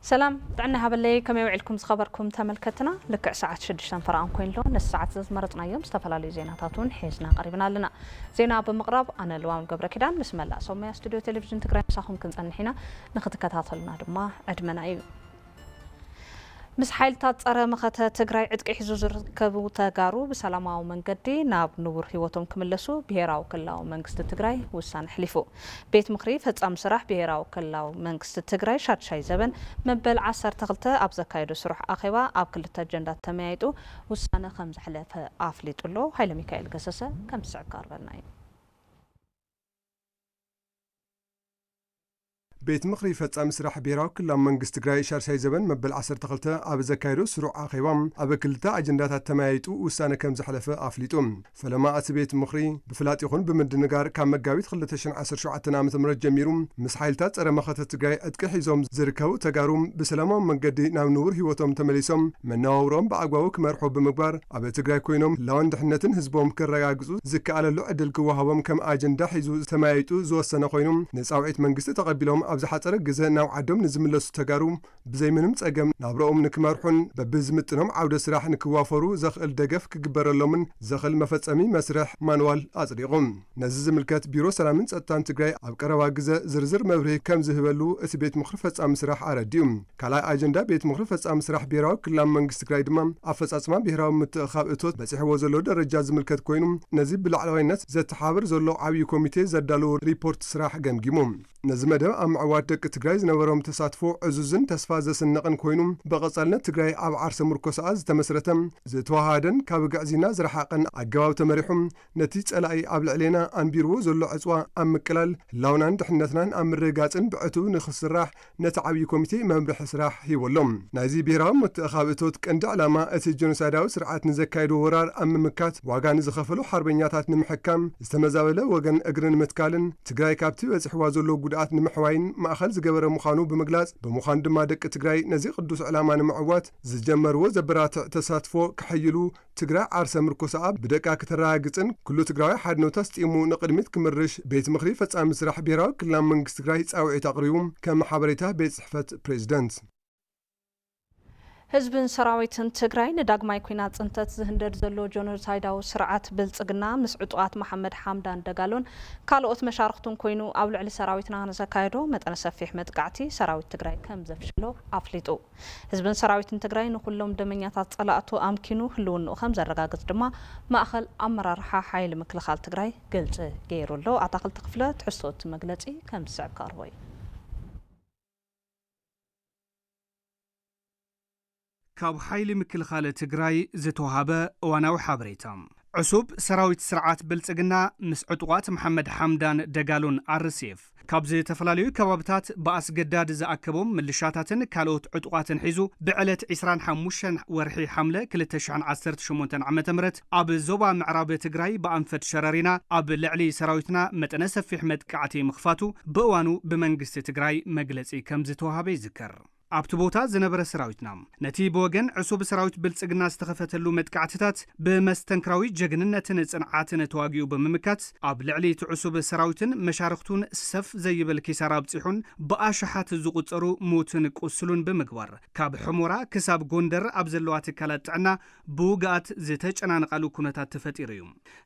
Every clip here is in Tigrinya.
ሰላም ጥዕና ይሃበለይ ከመይ ውዒልኩም ዝኸበርኩም ተመልከትና ልክዕ ሰዓት ሽዱሽተን ፈረቓን ኮይኑ ኣሎ ነዚ ሰዓት እዚ ዝመረፅናዮም ዝተፈላለዩ ዜናታት እውን ሒዝና ቀሪብና ኣለና ዜና ብምቕራብ ኣነ ልዋም ገብረ ኪዳን ምስ መላእ ሰሙያ ስቱድዮ ቴሌቭዥን ትግራይ ምሳኹም ክንፀንሕ ኢና ንክትከታተሉና ድማ ዕድመና እዩ ምስ ሓይልታት ፀረ መኸተ ትግራይ ዕጥቂ ሒዙ ዝርከቡ ተጋሩ ብሰላማዊ መንገዲ ናብ ንቡር ህይወቶም ክምለሱ ብሄራዊ ክልላዊ መንግስቲ ትግራይ ውሳነ ኣሕሊፉ። ቤት ምኽሪ ፈፃሚ ስራሕ ብሄራዊ ክልላዊ መንግስቲ ትግራይ ሻድሻይ ዘበን መበል ዓሰርተ ክልተ ኣብ ዘካየዶ ስሩሕ ኣኼባ ኣብ ክልተ ኣጀንዳ ተመያይጡ ውሳነ ከምዘሕለፈ ኣፍሊጡ ኣሎ። ሃይለሚካኤል ገሰሰ ከምዝስዕብ ክቐርበልና እዩ። ቤት ምኽሪ ፈፃሚ ስራሕ ብሄራዊ ክልላዊ መንግስቲ ትግራይ ሻድሻይ ዘበን መበል ዓሰርተ ክልተ ኣብ ዘካየዶ ስሩዕ ኣኼባ ኣብ ክልተ ኣጀንዳታት ተመያይጡ ውሳነ ከምዘሕለፈ ኣፍሊጡ። ፈለማ እቲ ቤት ምኽሪ ብፍላጥ ይኹን ብምድንጋር ካብ መጋቢት ክልተ ሽሕን ዓሰርተ ሸውዓተን ዓመተ ምህረት ጀሚሩ ምስ ሓይልታት ፀረ መኸተ ትግራይ ዕጥቂ ሒዞም ዝርከቡ ተጋሩ ብሰላማዊ መንገዲ ናብ ንቡር ህይወቶም ተመሊሶም መነባብሮኦም ብኣግባቡ ክመርሑ ብምግባር ኣብ ትግራይ ኮይኖም ህላወን ድሕነትን ህዝቦም ከረጋግፁ ዝከኣለሉ ዕድል ክወሃቦም ከም ኣጀንዳ ሒዙ ተመያይጡ ዝወሰነ ኮይኑ ንፃውዒት መንግስቲ ተቐቢሎም ኣብ ዝሓፀረ ግዘ ናብ ዓዶም ንዝምለሱ ተጋሩ ብዘይ ምንም ፀገም ናብረኦም ንክመርሑን በቢዝምጥኖም ዓውደ ስራሕ ንክዋፈሩ ዘኽእል ደገፍ ክግበረሎምን ዘኽእል መፈፀሚ መስርሕ፣ ማንዋል፣ ኣፅዲቑ ነዚ ዝምልከት ቢሮ ሰላምን ፀጥታን ትግራይ ኣብ ቀረባ ግዘ ዝርዝር መብርሂ ከምዝህበሉ እቲ ቤት ምኽሪ ፈፃሚ ስራሕ ኣረዲኡ። ካልኣይ ኣጀንዳ ቤት ምኽሪ ፈፃሚ ስራሕ ብሄራዊ ክልላዊ መንግስቲ ትግራይ ድማ ኣፈፃፅማ ብሄራዊ ምትእኽኻብ እቶት በፂሕዎ ዘሎ ደረጃ ዝምልከት ኮይኑ ነዚ ብላዕለዋይነት ዘተሓባብር ዘሎ ዓብዪ ኮሚቴ ዘዳለዎ ሪፖርት ስራሕ ገምጊሙ ነዚ መደብ ኣብ ምዕዋት ደቂ ትግራይ ዝነበሮም ተሳትፎ ዕዙዝን ተስፋ ዘስንቕን ኮይኑ ብቐፃልነት ትግራይ ኣብ ዓርሰ ምርኮሳኣ ዝተመስረተ ዝተወሃሃደን ካብ ግዕዝይና ዝረሓቐን ኣገባብ ተመሪሑ ነቲ ፀላኢ ኣብ ልዕሌና ኣንቢርዎ ዘሎ ዕፅዋ ኣብ ምቅላል ህላውናን ድሕነትናን ኣብ ምርግጋፅን ብዕቱብ ንክስራሕ ነቲ ዓብዪ ኮሚቴ መምርሒ ስራሕ ሂቡ ኣሎ። ናይዚ ብሄራዊ ምትእኻብ እቶት ቀንዲ ዕላማ እቲ ጀኖሳይዳዊ ስርዓት ንዘካየዶ ወራር ኣብ ምምካት ዋጋ ንዝኸፈሉ ሓርበኛታት ንምሕካም፣ ዝተመዛበለ ወገን እግሪ ንምትካልን ትግራይ ካብቲ በፂሕዋ ዘሎ ጉድኣት ንምሕዋይን ማእኸል ዝገበረ ምዃኑ ብምግላፅ ብምዃኑ ድማ ደቂ ትግራይ ነዚ ቅዱስ ዕላማ ንምዕዋት ዝጀመርዎ ዘበራትዕ ተሳትፎ ከሐይሉ ትግራይ ዓርሰ ምርኮሳኣ ብደቃ ክተረጋግፅን ኩሉ ትግራዋይ ሓድነቱ ኣስጢሙ ንቕድሚት ክምርሽ ቤት ምኽሪ ፈፃሚ ስራሕ ብሄራዊ ክልላዊ መንግስቲ ትግራይ ፃውዒት ኣቕሪቡ ከም ሓበሬታ ቤት ፅሕፈት ፕሬዚደንት። ህዝብን ሰራዊትን ትግራይ ንዳግማይ ኲናት ፅንተት ዝህንደድ ዘሎ ጆኖሳይዳዊ ስርዓት ብልፅግና ምስ ዕጡቓት መሓመድ ሓምዳን ደጋሎን ካልኦት መሻርኽቱን ኮይኑ ኣብ ልዕሊ ሰራዊትና ንዘካየዶ መጠነ ሰፊሕ መጥቃዕቲ ሰራዊት ትግራይ ከምዘፍሸሎ ኣፍሊጡ። ህዝብን ሰራዊትን ትግራይ ንኹሎም ደመኛታት ፀላእቱ ኣምኪኑ ህልውንኡ ከምዘረጋግፅ ድማ ማእኸል ኣመራርሓ ሓይሊ ምክልኻል ትግራይ ግልፂ ገይሩ ኣሎ። ኣታኽልቲ ክፍለ ትሕዝቶ እቲ መግለፂ ከምዝስዕብ ከቕርቦ እዩ። ካብ ሓይሊ ምክልኻለ ትግራይ ዝተውሃበ እዋናዊ ሓበሬታ። ዕሱብ ሰራዊት ስርዓት ብልጽግና ምስ ዕጡቓት መሓመድ ሓምዳን ደጋሎን፣ RSF፣ ካብ ዝተፈላለዩ ከባብታት ብኣስገዳድ ዝኣከቦም ምልሻታትን ካልኦት ዕጡቓትን ሒዙ ብዕለት ዕስራን ሓሙሽተን ወርሒ ሓምለ ክልተ ሽሕን ዓሰርተ ሸሞንተን ዓመተ ምህረት ኣብ ዞባ ምዕራብ ትግራይ ብኣንፈት ሸረሪና ኣብ ልዕሊ ሰራዊትና መጠነ ሰፊሕ መጥቃዕቲ ምኽፋቱ ብእዋኑ ብመንግስቲ ትግራይ መግለጺ ከምዝተወሃበ ይዝከር። ኣብቲ ቦታ ዝነበረ ሰራዊትና፣ ነቲ ብወገን ዕሱብ ሰራዊት ብልጽግና ዝተኸፈተሉ መጥቃዕትታት ብመስተንክራዊ ጀግንነትን ጽንዓትን ተዋጊኡ ብምምካት፣ ኣብ ልዕሊ እቲ ዕሱብ ሰራዊትን መሻርኽቱን ሰፍ ዘይብል ኪሳራ ኣብጺሑን ብኣሽሓት ዝቑጸሩ ሙትን ቁስሉን ብምግባር፣ ካብ ሑሞራ ክሳብ ጎንደር ኣብ ዘለዋ ትካላት ጥዕና ብውጉኣት ዝተጨናነቓሉ ኩነታት ተፈጢሩ እዩ።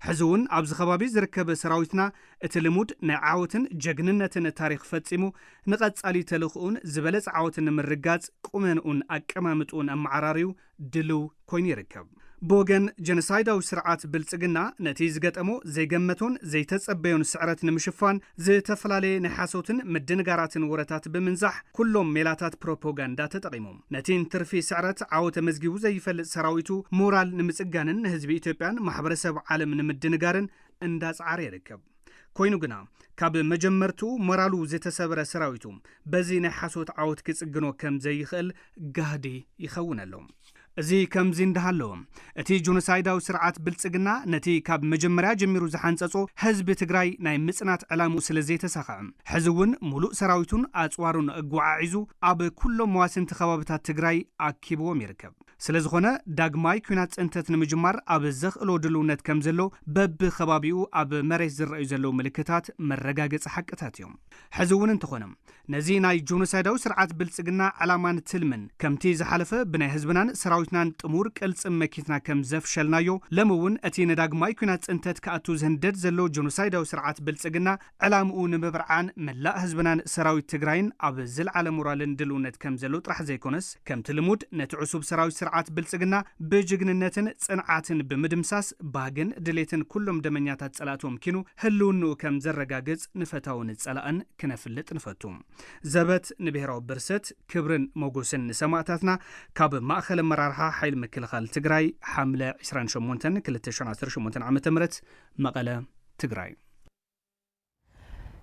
ሕዚ'ውን ኣብዚ ከባቢ ዝርከብ ሰራዊትና፣ እቲ ልሙድ ናይ ዓወትን ጀግንነትን ታሪኽ ፈጺሙ፣ ንቐጻሊ ተልእኾኡን ዝበለጸ ዓወት ንምርግጋጽ ቁመንኡን ኣቀማምጥኡን ኣመዓራርዩ ድሉው ኮይኑ ይርከብ። ብወገን ጀኖሳይዳዊ ስርዓት ብልጽግና፣ ነቲ ዝገጠሞ ዘይገመቶን ዘይተጸበዮን ስዕረት ንምሽፋን፣ ዝተፈላለየ ናይ ሓሶትን ምድንጋራትን ወረታት ብምንዛሕ፣ ኩሎም ሜላታት ፕሮፖጋንዳ ተጠቒሙ፣ ነቲ እንትርፊ ስዕረት ዓወት ኣመዝጊቡ ዘይፈልጥ ሰራዊቱ ሞራል ንምጽጋንን ንህዝቢ ኢትዮጵያን ማሕበረሰብ ዓለም ንምድንጋርን እንዳጽዓረ ይርከብ። ኮይኑ ግና ካብ መጀመርትኡ ሞራሉ ዝተሰብረ ሰራዊቱ በዚ ናይ ሓሶት ዓወት ክጽግኖ ከም ዘይኽእል ጋህዲ ይኸውን ኣሎ። እዚ ከምዚ እንዳሃለወ እቲ ጆኖሳይዳዊ ስርዓት ብልጽግና ነቲ ካብ መጀመርያ ጀሚሩ ዝሓንጸጾ ህዝቢ ትግራይ ናይ ምጽናት ዕላምኡ ስለ ዘይተሳኸዐ ሕዚ እውን ሙሉእ ሰራዊቱን ኣጽዋሩን ኣጓዓዒዙ ኣብ ኩሎም መዋስንቲ ከባብታት ትግራይ ኣኪብዎም ይርከብ። ስለዝኾነ ዳግማይ ኲናት ፅንተት ንምጅማር ኣብ ዘኽእሎ ድልውነት ከምዘሎ በቢከባቢኡ ኣብ መሬት ዝረኣዩ ዘለዉ ምልክታት መረጋገፂ ሓቅታት እዮም። ሕዚ እውን እንተኾነ ነዚ ናይ ጆኖሳይዳዊ ስርዓት ብልፅግና ዕላማን ትልምን ከምቲ ዝሓለፈ ብናይ ህዝብናን ሰራዊትናን ጥሙር ቅልፅም መኪትና ከምዘፍሸልናዮ ሎሚ እውን እቲ ንዳግማይ ኲናት ፅንተት ክኣቱ ዝህንደድ ዘሎ ጆኖሳይዳዊ ስርዓት ብልፅግና ዕላምኡ ንምብርዓን መላእ ህዝብናን ሰራዊት ትግራይን ኣብ ዝልዓለ ሞራልን ድልውነት ከምዘሎ ጥራሕ ዘይኮነስ ከምቲ ልሙድ ነቲ ዕሱብ ሰራዊት ስርዓት ብልፅግና ብጅግንነትን ፅንዓትን ብምድምሳስ ባህግን ድሌትን ኩሎም ደመኛታት ፀላእቱ ኣምኪኑ ህልውንኡ ከምዘረጋግፅ ንፈታውን ፀላእን ክነፍልጥ ንፈቱ። ዘበት ንብሄራዊ ብርሰት! ክብርን ሞጎስን ንሰማእታትና! ካብ ማእኸል ኣመራርሓ ሓይሊ ምክልኻል ትግራይ ሓምለ ዕስራን ሸሞንተን ክልተ ሽሕን ዓሰርተ ሸሞንተን ዓመተ ምህረት መቐለ፣ ትግራይ።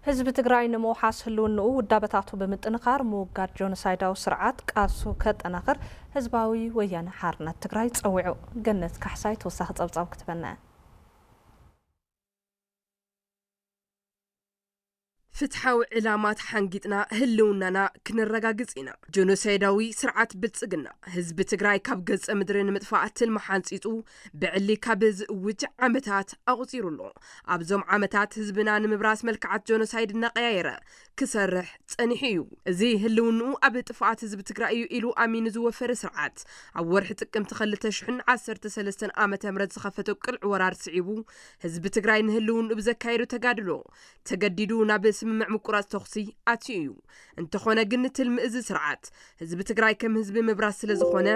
ህዝቢ ትግራይ ንምውሓስ ህልውንኡ ውዳበታቱ ብምጥንኻር ምውጋድ ጆኖሳይዳዊ ስርዓት ቃልሱ ከጠናኽር ህዝባዊ ወያነ ሓርነት ትግራይ ፀዊዑ። ገነት ካሕሳይ ተወሳኺ ፀብፃብ ክትበና እያ። ፍትሓዊ ዕላማ ተሓንጊጥና ህልውናና ክነረጋግፅ ኢና! ጆኖሳይዳዊ ስርዓት ብልፅግና ህዝቢ ትግራይ ካብ ገፀ ምድሪ ንምጥፋእ ትልሚ ሓንፂፁ ብዕሊ ካብ ዝእውጅ ዓመታት ኣቑፂሩ ኣሎ። ኣብዞም ዓመታት ህዝብና ንምብራስ መልክዓት ጆኖሳይድ እናቐያየረ ክሰርሕ ጸኒሑ እዩ። እዚ ህልውንኡ ኣብ ጥፍኣት ህዝቢ ትግራይ እዩ ኢሉ ኣሚኑ ዝወፈረ ስርዓት፣ ኣብ ወርሒ ጥቅምቲ ከልተ ሽሕን ዓሰርተ ሰለስተን ዓመተ ምህረት ዝኸፈቶ ቅልዕ ወራር ስዒቡ ህዝቢ ትግራይ ንህልውንኡ ብዘካየዶ ተጋድሎ ተገዲዱ ናብ ስምምዕ ምቁራጽ ተኹሲ ኣትዩ እዩ። እንተኾነ ግን ትልሚ እዚ ስርዓት ህዝቢ ትግራይ ከም ህዝቢ ምብራስ ስለዝኾነ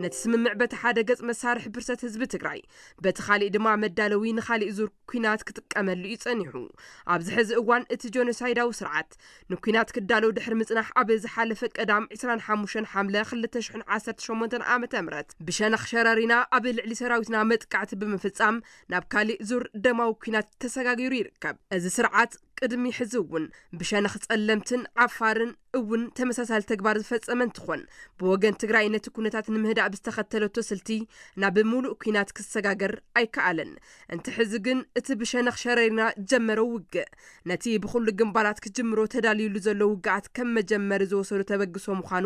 ነቲ ስምምዕ በቲ ሓደ ገጽ መሳርሒ ብርሰት ህዝቢ ትግራይ በቲ ካሊእ ድማ መዳለዊ ንካሊእ ዙር ኩናት ክጥቀመሉ እዩ ፀኒሑ። ኣብዚ ሕዚ እዋን እቲ ጆኖሳይዳዊ ስርዓት ንኩናት ክዳሎ ድሕሪ ምፅናሕ ኣብ ዝሓለፈ ቀዳም ዕስራን ሓሙሽተን ሓምለ ክልተ ሽሕን ዓሰርተ ሸሞንተን ዓመተ ምህረት ብሸነኽ ሸረሪና ኣብ ልዕሊ ሰራዊትና መጥቃዕቲ ብምፍፃም ናብ ካሊእ ዙር ደማዊ ኩናት ተሰጋጊሩ ይርከብ። እዚ ስርዓት ቅድሚ ሕዚ እውን ብሸነኽ ፀለምትን ዓፋርን፣ እውን ተመሳሳሊ ተግባር ዝፈፀመ እንትኾን ብወገን ትግራይ ነቲ ኩነታት ንምህዳእ ብዝተኸተለቶ ስልቲ ናብ ሙሉእ ኩናት ክሰጋገር ኣይከኣለን። እንተ ሕዚ ግን እቲ ብሸነኽ ሸረሪና ዝጀመረው ውግእ ነቲ ብኹሉ ግንባራት ክጅምሮ ተዳልዩሉ ዘሎ ውግኣት ከም መጀመሪ ዝወሰዶ ተበግሶ ምዃኑ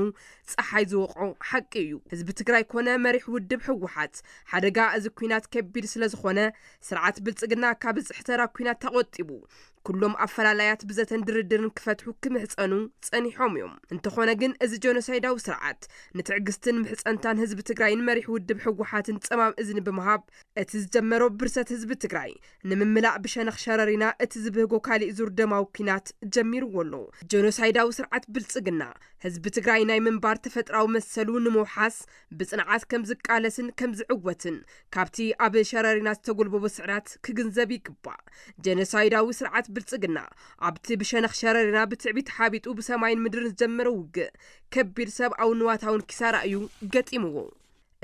ፀሓይ ዝወቕዖ ሓቂ እዩ። ህዝቢ ትግራይ ኮነ መሪሕ ውድብ ህወሓት ሓደጋ እዚ ኩናት ከቢድ ስለዝኾነ ስርዓት ብልፅግና ካብ ዝፅሕተራ ኩናት ተቖጢቡ ኩሎም ኣፈላላያት ብዘተን ድርድርን ክፈትሑ ክምሕጸኑ ጸኒሖም እዮም። እንተኾነ ግን እዚ ጀኖሳይዳዊ ስርዓት ንትዕግስትን ምሕጸንታን ህዝቢ ትግራይን መሪሕ ውድብ ህወሓትን ጸማም እዝኒ ብምሃብ እቲ ዝጀመሮ ብርሰት ህዝቢ ትግራይ ንምምላእ ብሸነኽ ሸረሪና እቲ ዝብህጎ ካሊእ ዙር ደማዊ ኩናት ጀሚርዎ ኣሎ። ጀኖሳይዳዊ ስርዓት ብልጽግና ህዝቢ ትግራይ ናይ ምንባር ተፈጥራዊ መሰሉ ንምውሓስ ብጽንዓት ከም ዝቃለስን ከም ዝዕወትን ካብቲ ኣብ ሸረሪና ዝተጎልበቦ ስዕራት ክግንዘብ ይግባእ። ጀኖሳይዳዊ ስርዓት ብልጽግና ኣብቲ ብሸነኽ ሸረሪና ብትዕቢት ሓቢጡ ብሰማይን ምድርን ዝጀመሮ ውግእ ከቢድ ሰብኣውን ንዋታውን ኪሳራ እዩ ገጢምዎ።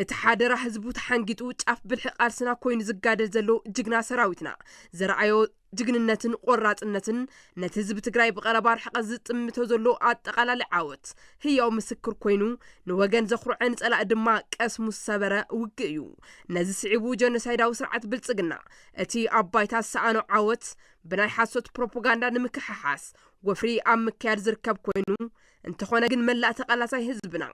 እቲ ሓደራ ህዝቡ ተሓንጊጡ ጫፍ ብልሒ ቃልስና ኮይኑ ዝጋደል ዘሎ ጅግና ሰራዊትና ዘርኣዮ ጅግንነትን ቆራፅነትን ነቲ ህዝቢ ትግራይ ብቐረባ ርሕቐት ዝጥምቶ ዘሎ ኣጠቓላሊ ዓወት ህያው ምስክር ኮይኑ ንወገን ዘኹርዐ ንፀላእ ድማ ቀስሙ ዝሰበረ ውግእ እዩ። ነዚ ስዒቡ ጀኖሳይዳዊ ስርዓት ብልፅግና እቲ ኣብ ባይታ ዝሰኣኖ ዓወት ብናይ ሓሶት ፕሮፖጋንዳ ንምክሕሓስ ወፍሪ ኣብ ምክያድ ዝርከብ ኮይኑ እንተኾነ ግን መላእ ተቓላሳይ ህዝብና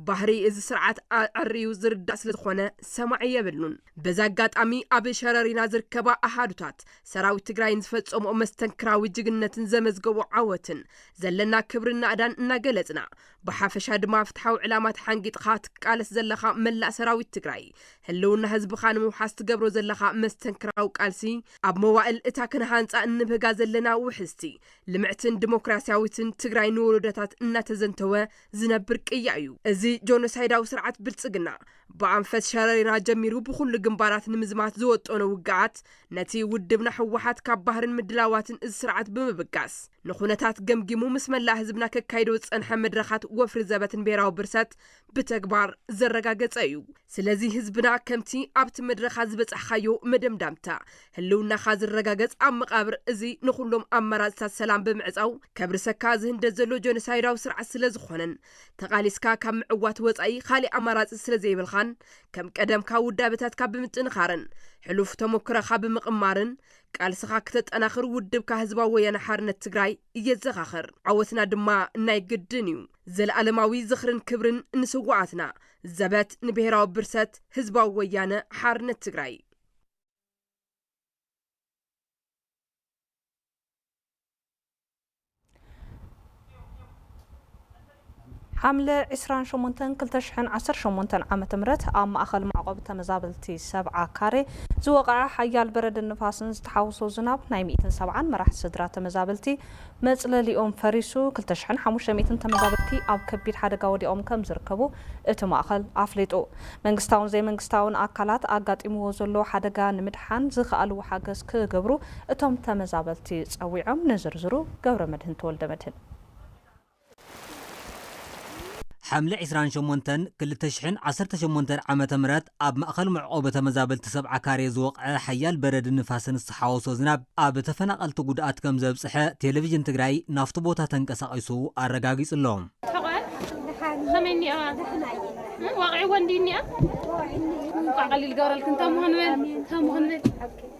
ባህሪ እዚ ስርዓት ኣዐርዩ ዝርዳእ ስለዝኾነ ሰማዒ የብሉን። በዚ ኣጋጣሚ ኣብ ሸረሪና ዝርከባ ኣሃዱታት ሰራዊት ትግራይን ዝፈፀምኦ መስተንክራዊ ጅግንነትን ዘመዝገብኦ ዓወትን ዘለና ክብርን ናእዳን እናገለፅና ብሓፈሻ ድማ ፍትሓዊ ዕላማ ተሓንጊጥኻ ትቃለስ ዘለኻ መላእ ሰራዊት ትግራይ ህልውና ህዝብኻ ንምውሓስ ትገብሮ ዘለኻ መስተንክራዊ ቃልሲ ኣብ መዋእል እታ ክንሃንፃ እንብህጋ ዘለና ውሕስቲ ልምዕትን ዲሞክራሲያዊትን ትግራይ ንወሎዶታት እናተዘንተወ ዝነብር ቅያ እዩ። እዚ ጆኖሳይዳዊ ስርዓት ብልፅግና ብኣንፈት ሸረሪና ጀሚሩ ብኹሉ ግንባራት ንምዝማት ዝወጠኖ ውግኣት ነቲ ውድብና ህወሓት ካብ ባህርን ምድላዋትን እዚ ስርዓት ብምብጋስ ንኹነታት ገምጊሙ ምስ መላእ ህዝብና ከካይዶ ዝፀንሐ መድረኻት ወፍሪ ዘበትን ብሄራዊ ብርሰት ብተግባር ዘረጋገጸ እዩ። ስለዚ ህዝብና ከምቲ ኣብቲ መድረኻ ዝበጻሕኻዮ መደምዳምታ ህልውናኻ ዝረጋገጽ ኣብ መቓብር እዚ ንኹሎም ኣማራጺታት ሰላም ብምዕጻው ከብርሰካ ዝህንደድ ዘሎ ጆኖሳይዳዊ ስርዓት ስለዝኾነን ተቓሊስካ ካብ ምዕዋት ወጻኢ ካሊእ ኣማራጺ ስለዘይብልኻን ከም ቀደምካ ውዳበታትካ ብምጥንኻርን ሕሉፍ ተሞክረኻ ብምቕማርን ቃልስኻ ክተጠናኽር ውድብካ ህዝባዊ ወያነ ሓርነት ትግራይ የዘኻኽር። ዓወትና ድማ ናይ ግድን እዩ። ዘልኣለማዊ ዝኽርን ክብርን ንስዋኣትና። ዘበት ንብሄራዊ ብርሰት ህዝባዊ ወያነ ሓርነት ትግራይ። ሓምለ ዕስራን ሸሞንተን ክልተ ሽሕን ዓሰርተ ሸሞንተን ዓመተ ምህረት ኣብ ማእኸል መዕቖቢ ተመዛበልቲ ሰብዓ ካሬ ዝወቐዐ ሓያል በረድን ንፋስን ዝተሓውሶ ዝናብ ናይ ሚእትን ሰብዓን መራሕቲ ስድራ ተመዛበልቲ መጽለሊኦም ፈሪሱ ክልተ ሽሕን ሓሙሽተ ሚእትን ተመዛበልቲ ኣብ ከቢድ ሓደጋ ወዲቖም ከምዝርከቡ እቲ ማእኸል ኣፍሊጡ። መንግስታውን ዘይመንግስታውን ኣካላት ኣጋጢምዎ ዘሎ ሓደጋ ንምድሓን ዝክኣልዎ ሓገዝ ክገብሩ እቶም ተመዛበልቲ ፀዊዖም። ንዝርዝሩ ገብረመድህን ተወልደመድህን። ሓምለ ዕስራን ሸሞንተን ክልተ ሽሕን ዓሰርተ ሸሞንተን ዓመተ ምህረት ኣብ ማእኸል መዕቖቢ ተመዛበልቲ ሰብዓ ካሬ ዝወቕዐ ሓያል በረድን ንፋስን ዝተሓወሶ ዝናብ ኣብ ተፈናቐልቲ ጉድኣት ከምዘብፅሐ ቴሌቪዥን ትግራይ ናፍቲ ቦታ ተንቀሳቒሱ ኣረጋጊፁ ኣሎ። ከመይ እኒኣ ዋቂዕዎ እንዲዩ እኒኣ እንኳዕ ቀሊል ገበረልክን ተምሆን በል ተምሆን በል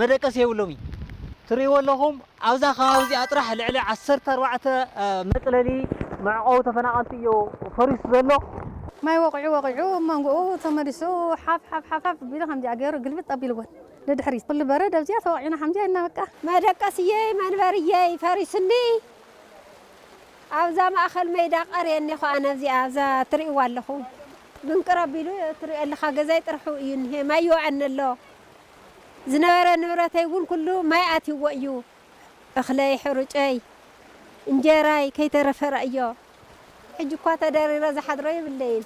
መደቀሲ የብሎም እዩ ትሪእዎ ኣለኹም ኣብዛ ከባቢ እዚኣ ጥራሕ ልዕሊ ዓሰርተ ኣርባዕተ መፅለሊ መዕቆቢ ተፈናቀልቲ እዮ ፈሪሱ ዘሎ። ማይ ወቂዑ ወቂዑ እብ መንጉኡ ተመሊሱ ሓፍ ሓፍ ሓፍ ሓፍ ቢሉ ከምዚኣ ገይሩ ግልብጥ ኣቢልወን ንድሕሪት ኩሉ በረድ ኣብዚኣ ተወቂዕና ከምዚኣ ኢልና በቃ። መደቀስየይ መንበርየይ ፈሪሱኒ ኣብዛ ማእኸል መይዳ ቀርየኒ ኹኣ ነብዚኣ ኣብዛ ትሪእዋ ኣለኹም ምንቅር ኣቢሉ ትሪኦ ኣለኻ ገዛይ ጥርሑ እዩ እኒሀ ማይ ይወዐኒ ኣሎ ዝነበረ ንብረተይ እውን ኩሉ ማይ ኣትዩዎ እዩ። እኽለይ፣ ሕሩጨይ፣ እንጀራይ ከይተረፈ ረኣዮ። ሕጂ እኳ ተደሪረ ዝሓድሮ የብለይን።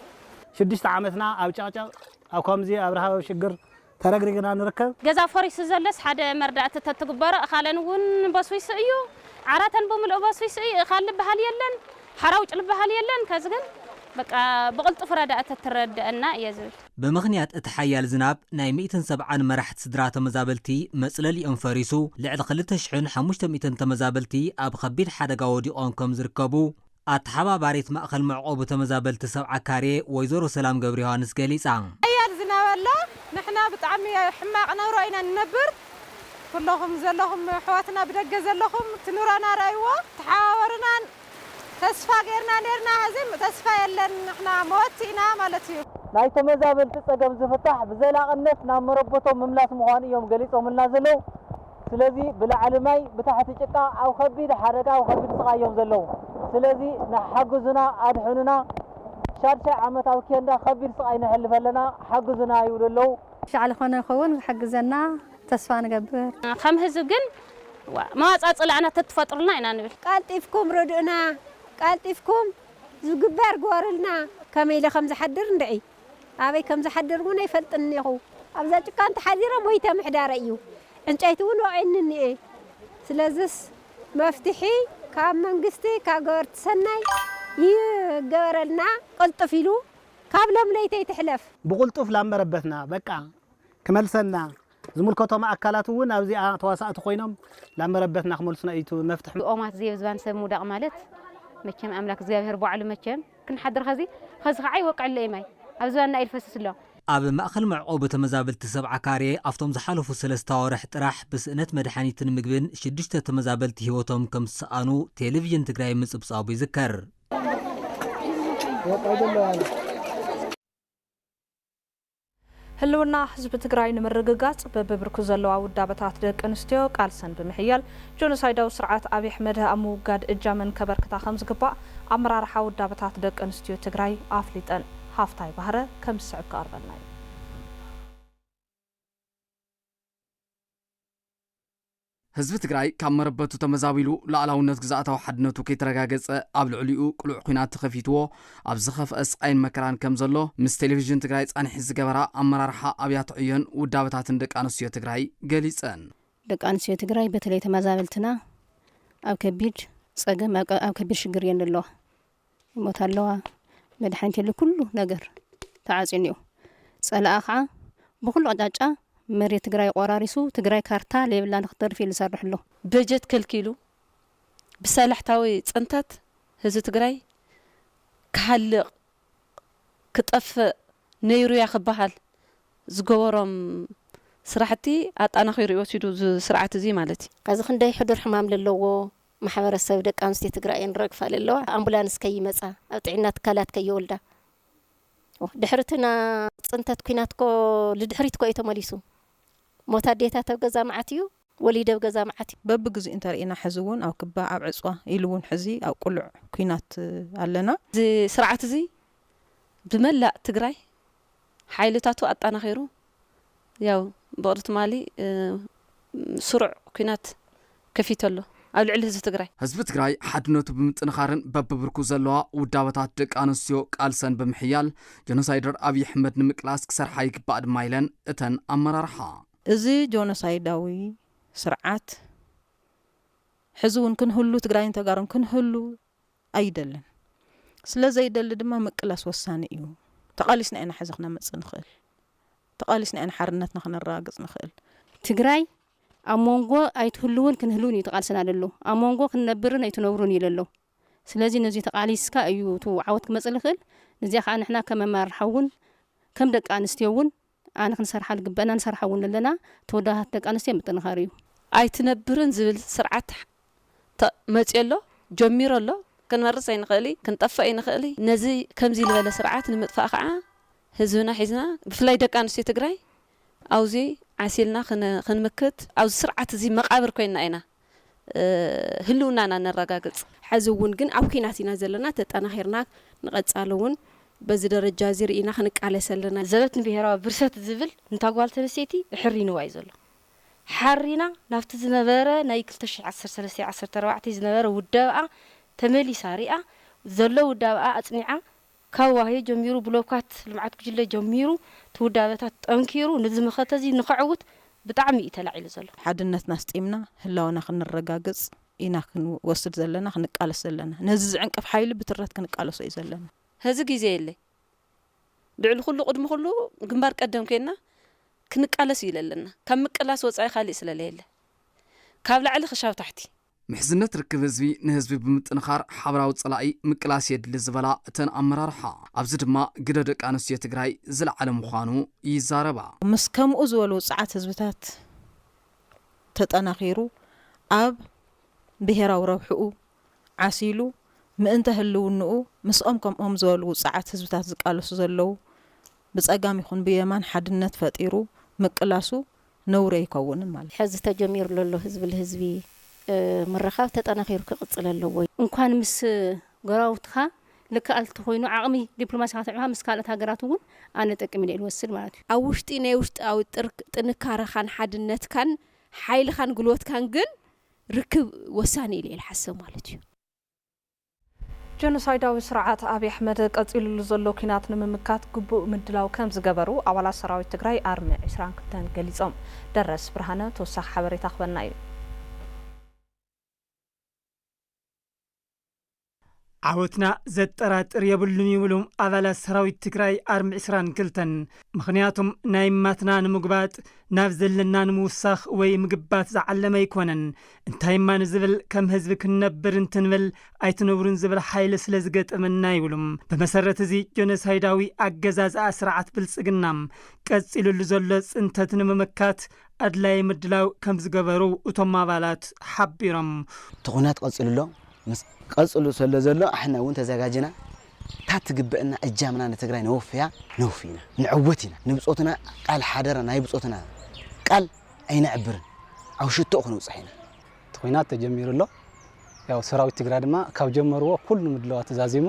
ሽዱሽተ ዓመትና ኣብ ጨቕጨቕ፣ ኣብ ከምዚ ኣብ ረሃብ ኣብ ሽግር ተረግሪግና ንርከብ። ገዛ ፈሪሱ ዘሎስ ሓደ መርዳእቲ ተትግበሮ እኻለን እውን በስቢሱ እዩ። ዓራተን ብምልኡ በስቢሱ እዩ። እኻል ልበሃል የለን። ሓራውጭ ልበሃል የለን። ከዚ ግን በቃ ብቕልጡፍ ረዳእቲ ተትረደኣና እየ ዝብል። ብምኽንያት እቲ ሓያል ዝናብ ናይ ሚእትን ሰብዓን መራሕቲ ስድራ ተመዛበልቲ መጽለሊኦም ፈሪሱ ልዕሊ ክልተ ሽሕን ሓሙሽተ ሚእትን ተመዛበልቲ ኣብ ኸቢድ ሓደጋ ወዲቖም ከም ዝርከቡ ኣተሓባባሪት ማእኸል መዕቖቢ ተመዛበልቲ ሰብዓ ካሬ ወይዘሮ ሰላም ገብረዮሃንስ ገሊጻ። ሓያል ዝናብ ኣሎ ንሕና ብጣዕሚ ሕማቕ ነብሮ ኢና ንነብር ኩሎኹም ዘለኹም ኣሕዋትና ብደገ ዘለኹም እቲ ኑሮና ርኣይዎ ተሓባበሩና። ተስፋ ጌርና ኔርና ሐዚ ተስፋ የለን ንሕና መወቲ ኢና ማለት እዩ። ናይ ተመዛበልቲ ፀገም ዝፍታሕ ብዘላቕነት ናብ መረበቶም ምምላስ ምዃኑ እዮም ገሊፆምልና ዘለው። ስለዚ ብላዕሊ ማይ ብታሕቲ ጭቃ ኣብ ኸቢድ ሓደጋ ኣብ ኸቢድ ስቓይ እዮም ዘለው። ስለዚ ንሓግዙና ኣድሕኑና ሻድሻይ ዓመት ኣብ ኬንዳ ኸቢድ ስቓይ ነሕልፍ ኣለና ሓግዙና ይብሉ ኣለው። ሻዕ ልኾነ ልኸውን ዝሕግዘና ተስፋ ንገብር። ከም ህዝቢ ግን መዋጽኣ ጽላእና ተትፈጥሩልና ኢና ንብል። ቀልጢፍኩም ርድኡና ቀልጢፍኩም ዝግበር ግበሩልና። ከመይ ኢለ ከም ዝሓድር እንድዒ ኣበይ ከም ዝሓድር እውን ኣይፈልጥን እኒኹ። ኣብዛ ጭቃ እንተሓዲረ ሞይተ ምሕዳረይ እዩ። ዕንጨይቲ እውን ወቒዕኒ እኒኤ። ስለዝስ መፍትሒ ካብ መንግስቲ ካብ ገበርቲ ሰናይ ይገበረልና ቅልጥፍ ኢሉ ካብ ሎምለይተይ ትሕለፍ። ብቕልጡፍ ላብ መረበትና በቃ ክመልሰልና ዝምልከቶም ኣካላት እውን ኣብዚኣ ተዋሳእቲ ኮይኖም ናብ መረበትና ክመልሱና እዩ እቲ መፍትሕ። ኦማት ዘየብዝባን ሰብ ምውዳቅ ማለት መቸም ኣምላክ እግዚኣብሔር ባዕሉ መቸም ክንሓድር ኸዚ ኸዚ ኸዓ ይወቅዕለይ ማይ ኣብ ዝባንና እዩ ልፈስስ ኣሎ። ኣብ ማእኸል መዕቆቢ ተመዛበልቲ ሰብዓ ካሬ ኣብቶም ዝሓለፉ ሰለስተ ኣዋርሕ ጥራሕ ብስእነት መድሓኒትን ምግብን ሽዱሽተ ተመዛበልቲ ህይወቶም ከም ዝሰኣኑ ቴሌቪዥን ትግራይ ምፅብፃቡ ይዝከር። ህልውና ህዝቢ ትግራይ ንምርግጋፅ በቢብርኩ ዘለዋ ውዳበታት ደቂ ኣንስትዮ ቃልሰን ብምሕያል ጆኖሳይዳዊ ስርዓት ኣብይ ኣሕመድ ኣብ ምውጋድ እጃመን ከበርክታ ከምዝግባእ ኣመራርሓ ውዳበታት ደቂ ኣንስትዮ ትግራይ ኣፍሊጠን። ሃፍታይ ባህረ ከም ዝስዕብ ክቐርበልና እዩ። ህዝቢ ትግራይ ካብ መረበቱ ተመዛቢሉ ሉኣላውነት ግዝኣታዊ ሓድነቱ ከይተረጋገፀ ኣብ ልዕሊኡ ቅሉዕ ኹናት ተኸፊትዎ ኣብ ዝኸፍኣ ስቓይን መከራን ከም ዘሎ ምስ ቴሌቪዥን ትግራይ ፃኒሒት ዝገበራ ኣመራርሓ ኣብያተ ዕዮን ውዳበታትን ደቂ ኣንስትዮ ትግራይ ገሊፀን። ደቂ ኣንስትዮ ትግራይ በተለይ ተመዛበልትና ኣብ ከቢድ ፀገም ኣብ ከቢድ ሽግር እየን ዘለዋ። ሞት ኣለዋ መድሓኒት የለ ኩሉ ነገር ተዓፅዩ እኒኦ ፀላኣ ከዓ ብኩሉ ኣቅጫጫ መሬት ትግራይ ቆራሪሱ ትግራይ ካርታ ለይብላ ንክተርፍ እዩ ዝሰርሕ ኣሎ። በጀት ከልኪሉ ብሳላሕታዊ ፅንተት ህዝቢ ትግራይ ክሃልቅ ክጠፍእ ነይሩያ ክበሃል ዝገበሮም ስራሕቲ ኣጣናኺሩ እዩ ወሲዱ እዚ ስርዓት እዙይ ማለት እዩ። ኣዚ ክንደይ ሕዱር ሕማም ለለዎ ማሕበረሰብ ደቂ ኣንስትዮ ትግራይ እየን ረግፋ ለለዋ ኣምቡላንስ ከይመፃ ኣብ ጥዒና ትካላት ከይወልዳ ድሕሪ እቲ ናይ ፅንተት ኩናት እኮ ልድሕሪት እኮ እዩ ተመሊሱ ሞት ኣዴታት ኣብ ገዛ መዓት እዩ ወሊደ ኣብ ገዛ መዓት እዩ። በብግዚኡ እንተሪኢና ሕዚ እውን ኣብ ክባ ኣብ ዕፅዋ ኢሉ እውን ሕዚ ኣብ ቁሉዕ ኩናት ኣለና። እዚ ስርዓት እዚ ብመላእ ትግራይ ሓይልታቱ ኣጣናኺሩ ያው ብቕሊ ትማሊ ስሩዕ ኩናት ከፊቱ ኣሎ ኣብ ልዕሊ ህዝቢ ትግራይ። ህዝቢ ትግራይ ሓድነቱ ብምጥንኻርን በብብርኩ ዘለዋ ውዳበታት ደቂ ኣንስትዮ ቃልሰን ብምሕያል ጆኖሳይደር ኣብይ ኣሕመድ ንምቅላስ ክሰርሓ ይግባእ ድማ ኢለን እተን ኣመራርሓ። እዚ ጆኖሳይዳዊ ስርዓት ሕዚ እውን ክንህሉ ትግራይን ተጋሩን ክንህሉ ኣይደልን። ስለ ዘይደሊ ድማ ምቅላስ ወሳኒ እዩ። ተቓሊስና ኢና ሕዚ ክነምጽእ ንኽእል። ተቓሊስና ኢና ሓርነትና ክነረጋግጽ ንኽእል። ትግራይ ኣብ ሞንጎ ኣይትህልውን ክንህልውን እዩ ተቓልስና ለሎ። ኣብ ሞንጎ ክንነብርን ኣይትነብሩን እዩ ለሎ። ስለዚ ነዙይ ተቓሊስካ እዩ እቲ ዓወት ክመጽእ ልኽእል። ንዚኣ ከኣ ንሕና ከም ኣመራርሓ እውን ከም ደቂ ኣንስትዮ እውን ኣነ ክንሰርሓ ልግበእና ንሰርሓ እውን ኣለና ተወዳዳርቲ ደቂ ኣንስትዮ ምጥንኻር እዩ። ኣይትነብርን ዝብል ስርዓት ተ መፅዮ ኣሎ ጀሚሩ ኣሎ ክንመርፅ ኣይንኽእል እይ ክንጠፍእ ኣይንኽእል እይ ነዚ ከምዚ ልበለ ስርዓት ንምጥፋእ ኸዓ ህዝብና ሒዝና ብፍላይ ደቂ ኣንስትዮ ትግራይ ኣውዙይ ዓሲልና ክንምክት ኣብዚ ስርዓት እዙይ መቓብር ኮይንና ኢና ህልውናና ነረጋግፅ። ሐዚ እውን ግን ኣብ ኲናት ኢና ዘለና፣ ተጠናኺርና ንቐፃሊ እውን በዚ ደረጃ እዚ ርኢና ክንቃለስ ኣለና። ዘበት ንብሄራዊ ብርሰት ዝብል ንታ ጓል ተንስተይቲ እሕሪንዋ እዩ ዘሎ። ሓሪና ናብቲ ዝነበረ ናይ ክልተ ሽሕ ዓሰርተ ሰለስተ ዓሰርተ ኣርባዕተ ዝነበረ ውዳበኣ ተመሊሳ ሪኣ ዘሎ ውዳበኣ ኣፅኒዓ ካብ ዋህዮ ጀሚሩ ብሎካት ልምዓት ጉጅለ ጀሚሩ እቲ ውዳበታት ጠንኪሩ ንዚ መኸተ እዚ ንኸዕውት ብጣዕሚ እዩ ተላዒሉ ዘሎ። ሓድነትና ኣስጢምና ህላወና ክንረጋግፅ ኢና ክንወስድ ዘለና ክንቃለስ ዘለና። ነዚ ዝዕንቅፍ ሓይሊ ብትረት ክንቃለሶ እዩ ዘለና። ሀዚ ግዜ የለይ ልዕሊ ኹሉ ቕድሚ ኹሉ ግንባር ቀደም ኮይንና ክንቃለስ እዩ ለለና። ካብ ምቅላስ ወፃኢ ካሊእ ስለለየለ ካብ ላዕሊ ኽሻብ ታሕቲ። ምሕዝነት ርክብ ህዝቢ ንህዝቢ ብምጥንኻር ሓበራዊ ፀላኢ ምቅላስ የድሊ ዝበላ እተን ኣመራርሓ፣ ኣብዚ ድማ ግደ ደቂ ኣንስትዮ ትግራይ ዝለዓለ ምዃኑ ይዛረባ። ምስ ከምኡ ዝበሉ ውፅዓት ህዝብታት ተጠናኺሩ ኣብ ብሄራዊ ረብሕኡ ዓሲሉ ምእንተ ህልውንኡ ምስኦም ከምኦም ዝበሉ ውፅዓት ህዝብታት ዝቃለሱ ዘለዉ ብፀጋም ይኹን ብየማን ሓድነት ፈጢሩ ምቅላሱ ነውሪ ኣይኮውንን ማለት። ሐዚ ተጀሚሩ ለሎ ህዝቢ ልህዝቢ ምርኻብ ተጠናኺሩ ክቕፅል ኣለዎ። እንኳን ምስ ጎረባብትኻ ልከኣልቲ ኮይኑ ዓቕሚ ዲፕሎማሲኻ ኣስዕብኻ ምስ ካልኦት ሃገራት እውን ኣነ ጠቅም ኢለ ልወስድ ማለት እዩ። ኣብ ውሽጢ ናይ ውሽጣዊ ጥንካረኻን ሓድነትካን ሓይልኻን ጉልበትካን ግን ርክብ ወሳኒ ኢለ እየ ልሓስብ ማለት እዩ። ጀኖሳይዳዊ ስርዓት ኣብይ ኣሕመድ ቀፂሉሉ ዘሎ ኲናት ንምምካት ግቡእ ምድላው ከምዝገበሩ ኣባላት ሰራዊት ትግራይ ኣርሚ ዕስራን ክልተን ገሊፆም። ደረስ ብርሃነ ተወሳኺ ሓበሬታ ክበና እዩ። ዓወትና ዘጠራጥር የብሉን ይብሉ ኣባላት ሰራዊት ትግራይ ኣርሚ ዕስራን ክልተን። ምኽንያቱም ናይ እማትና ንምጉባጥ ናብ ዘለና ንምውሳኽ ወይ ምግባት ዝዓለመ ኣይኮነን። እንታይ እማ ንዝብል ከም ህዝቢ ክንነብር እንትንብል ኣይትነብሩን ዝብል ሓይሊ ስለ ዝገጠመና ይብሉ። ብመሰረት እዚ ጆኖሳይዳዊ ኣገዛዝኣ ስርዓት ብልፅግና ቀፂሉሉ ዘሎ ፅንተት ንምምካት ኣድላዪ ምድላው ከም ዝገበሩ እቶም ኣባላት ሓቢሮም። እቲ ኹናት ቀፂሉ ኣሎ። ምስ። ቀፅሉ ሰለ ዘሎ ኣሕና እውን ተዘጋጅና እታ እትግበእና እጃምና ንትግራይ ነወፍያ ነውፍይና ንዕወት ኢና ንብፆትና ቃል ሓደራ ናይ ብፆትና ቃል። ኣይነዕብርን ኣብ ሽቶኡ ክንብጽሕ ኢና። እቲ ኹናት ተጀሚሩ ኣሎ ያው ሰራዊት ትግራይ ድማ ካብ ጀመርዎ ኩሉ ምድላዋቱ ዛዚሙ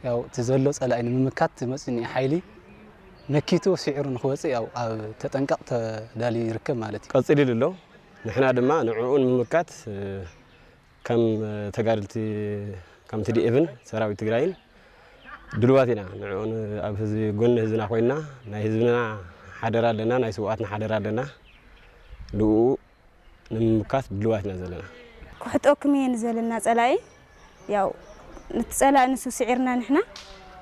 ያው እቲ ዘሎ ጸላኢ ንምምካት መጺኡ እኒኦ ሓይሊ መኪቱ ሲዒሩ ንክወጽእ ያው ኣብ ተጠንቀቅ ተዳልዩ ይርከብ ማለት እዩ። ቀጺሊሉ ኣሎ ንሕና ድማ ንዕኡ ንምምካት ከም ተጋደልቲ ከም ትዲኤፍን ሰራዊት ትግራይን ድልዋት ኢና ንዕኡ ኣብ ህዝቢ ጎኒ ህዝብና ኮይና ናይ ህዝብና ሓደራ ኣለና ናይ ስውኣትና ሓደራ ኣለና ልኡ ንምምካት ድልዋት ኢና ዘለና ክሕጠኩም እየ ንዘለና ጸላኢ ያው ንትጸላኢ ንሱ ስዒርና ንሕና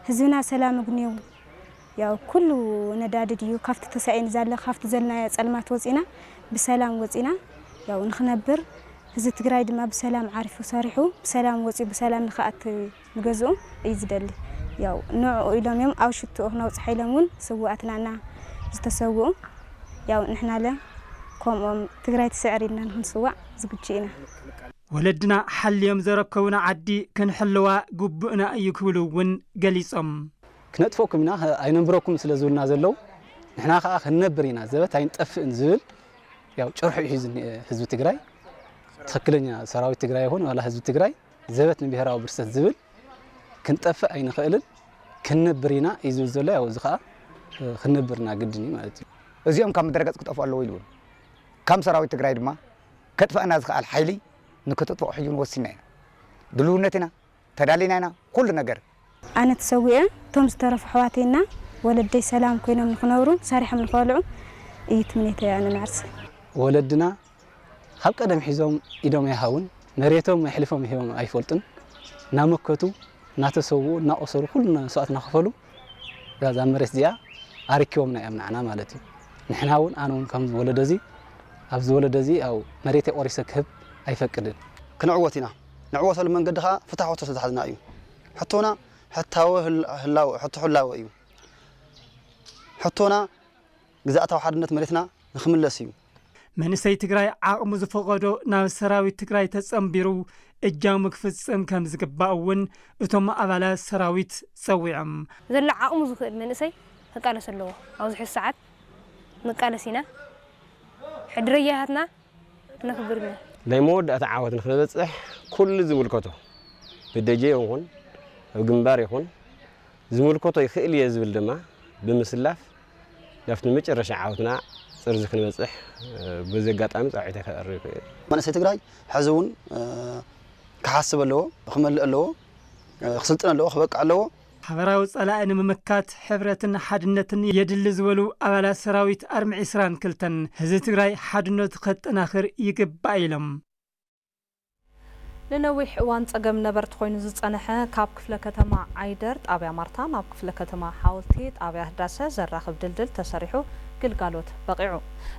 ህዝብና ሰላም እግንዩ ያው ኩሉ ነዳዲ ድዩ ካብቲ ተሳኢን ዛለ ካብቲ ዘልናዮ ጸልማት ወጺና ብሰላም ወጺና ያው ንክነብር ህዝቢ ትግራይ ድማ ብሰላም ዓሪፉ ሰሪሑ ብሰላም ወጺኡ ብሰላም ንክኣቲ ንገዝኡ እዩ ዝደሊ ያው ንዕኡ ኢሎም እዮም ኣብ ሽትኡ ክነውጽሐ ኢሎም እውን ስውኣትና እና ዝተሰውኡ ያው ንሕናለ ከምኦም ትግራይ ትስዕር ኢልና ንክንስዋእ ዝግጁ ኢና። ወለድና ሓልዮም ዘረከቡና ዓዲ ክንሕልዋ ግቡእና እዩ ክብሉ እውን ገሊፆም። ክነጥፈኩም ኢና ኣይነንብረኩምን ስለ ዝብሉና ዘለዉ ንሕና ከኣ ክንነብር ኢና ዘበት ኣይንጠፍእን ዝብል ያው ጭርሖ ሒዙ ዝኒኤ ህዝቢ ትግራይ ትኽክለኛ ሰራዊት ትግራይ ይኹን ዋላ ህዝቢ ትግራይ ዘበት ንብሄራዊ ብርሰት ዝብል ክንጠፍእ ኣይንኽእልን ክንነብር ኢና እዩ ዝብል ዘሎ ያው እዚ ከዓ ክንነብር ኢና ግድን እዩ ማለት እዩ እዚኦም ካብ ምድረገፅ ክጠፍኡ ኣለዎ ኢሉ እውን ከም ሰራዊት ትግራይ ድማ ከጥፈኣና ዝክኣል ሓይሊ ንክተጥፍኦ ሕጂ እውን ወሲንና ኢና ድልውነት ኢና ተዳሊና ኢና ኩሉ ነገር። ኣነ ተሰዊኤ እቶም ዝተረፉ ኣሕዋተይ እና ወለደይ ሰላም ኮይኖም ንክነብሩ ሰሪሖም ንክበልዑ እዩ ትምኔተይ ኣነ ንዓርሰ። ወለድና ኻብ ቀደም ሒዞም ኢዶም ኣይሃቡን መሬቶም ኣሕሊፎም ሂቦም ኣይፈልጡን እናመከቱ እናተሰውኡ እናቆሰሉ ኩሉ መስዋእቲ እናኸፈሉ እዛ መሬት እዚኣ ኣሪኪቦምና እዮም ንዓና ማለት እዩ ንሕና እውን ኣነ እውን ከምዚ ወለዶ እዚ ኣብዚ ወለዶ እዚ ያው መሬተይ ቆሪሰ ክህብ ኣይፈቅድን። ክንዕወት ኢና ንዕወተሉ መንገዲ ከኣ ፍታሕ ሕቶ ስለ ዝሓዝና እዩ። ሕቶና ሕታዊ ህላወ፣ ሕቶ ህላወ፣ እዩ። ሕቶና ግዝኣታዊ ሓድነት መሬትና ንክምለስ እዩ። መንእሰይ ትግራይ ዓቕሙ ዝፈቐዶ ናብ ሰራዊት ትግራይ ተፀምቢሩ እጃሙ ክፍፅም ከም ዝግባእ እውን እቶም ኣባላት ሰራዊት ፀዊዖም። ዘሎ ዓቕሙ ዝኽእል መንእሰይ ክቃለስ ኣለዎ። ኣብዚ ሕዚ ሰዓት ንቃለስ ኢና። ሕድረያታትና ንክብርነ። ናይ መወዳእታ ዓወት ንክንበጽሕ ኩሉ ዝምልከቶ ብደጀ ይኹን ኣብ ግንባር ይኹን ዝምልከቶ ይክእል እየ ዝብል ድማ ብምስላፍ ናብቲ መጨረሻ ዓወትና ጥርዙ ክንበጽሕ በዚ ኣጋጣሚ ጻውዒተይ ከቕርብ እየ። መንእሰይ ትግራይ ሕዚ እውን ክሓስብ ኣለዎ፣ ክመልእ ኣለዎ፣ ክስልጥን ኣለዎ፣ ክበቅዕ ኣለዎ። ሓበራዊ ጸላኢ ንምምካት ሕብረትን ሓድነትን የድሊ ዝበሉ ኣባላት ሰራዊት ኣርሚ ዕስራን ክልተን፣ ህዝቢ ትግራይ ሓድነቱ ከጠናኽር ይግባእ ኢሎም። ንነዊሕ እዋን ፀገም ነበርቲ ኮይኑ ዝፀነሐ ካብ ክፍለ ከተማ ዓይደር ጣብያ ማርታ ናብ ክፍለ ከተማ ሓወልቲ ጣብያ ህዳሰ ዘራኽብ ድልድል ተሰሪሑ ግልጋሎት በቒዑ።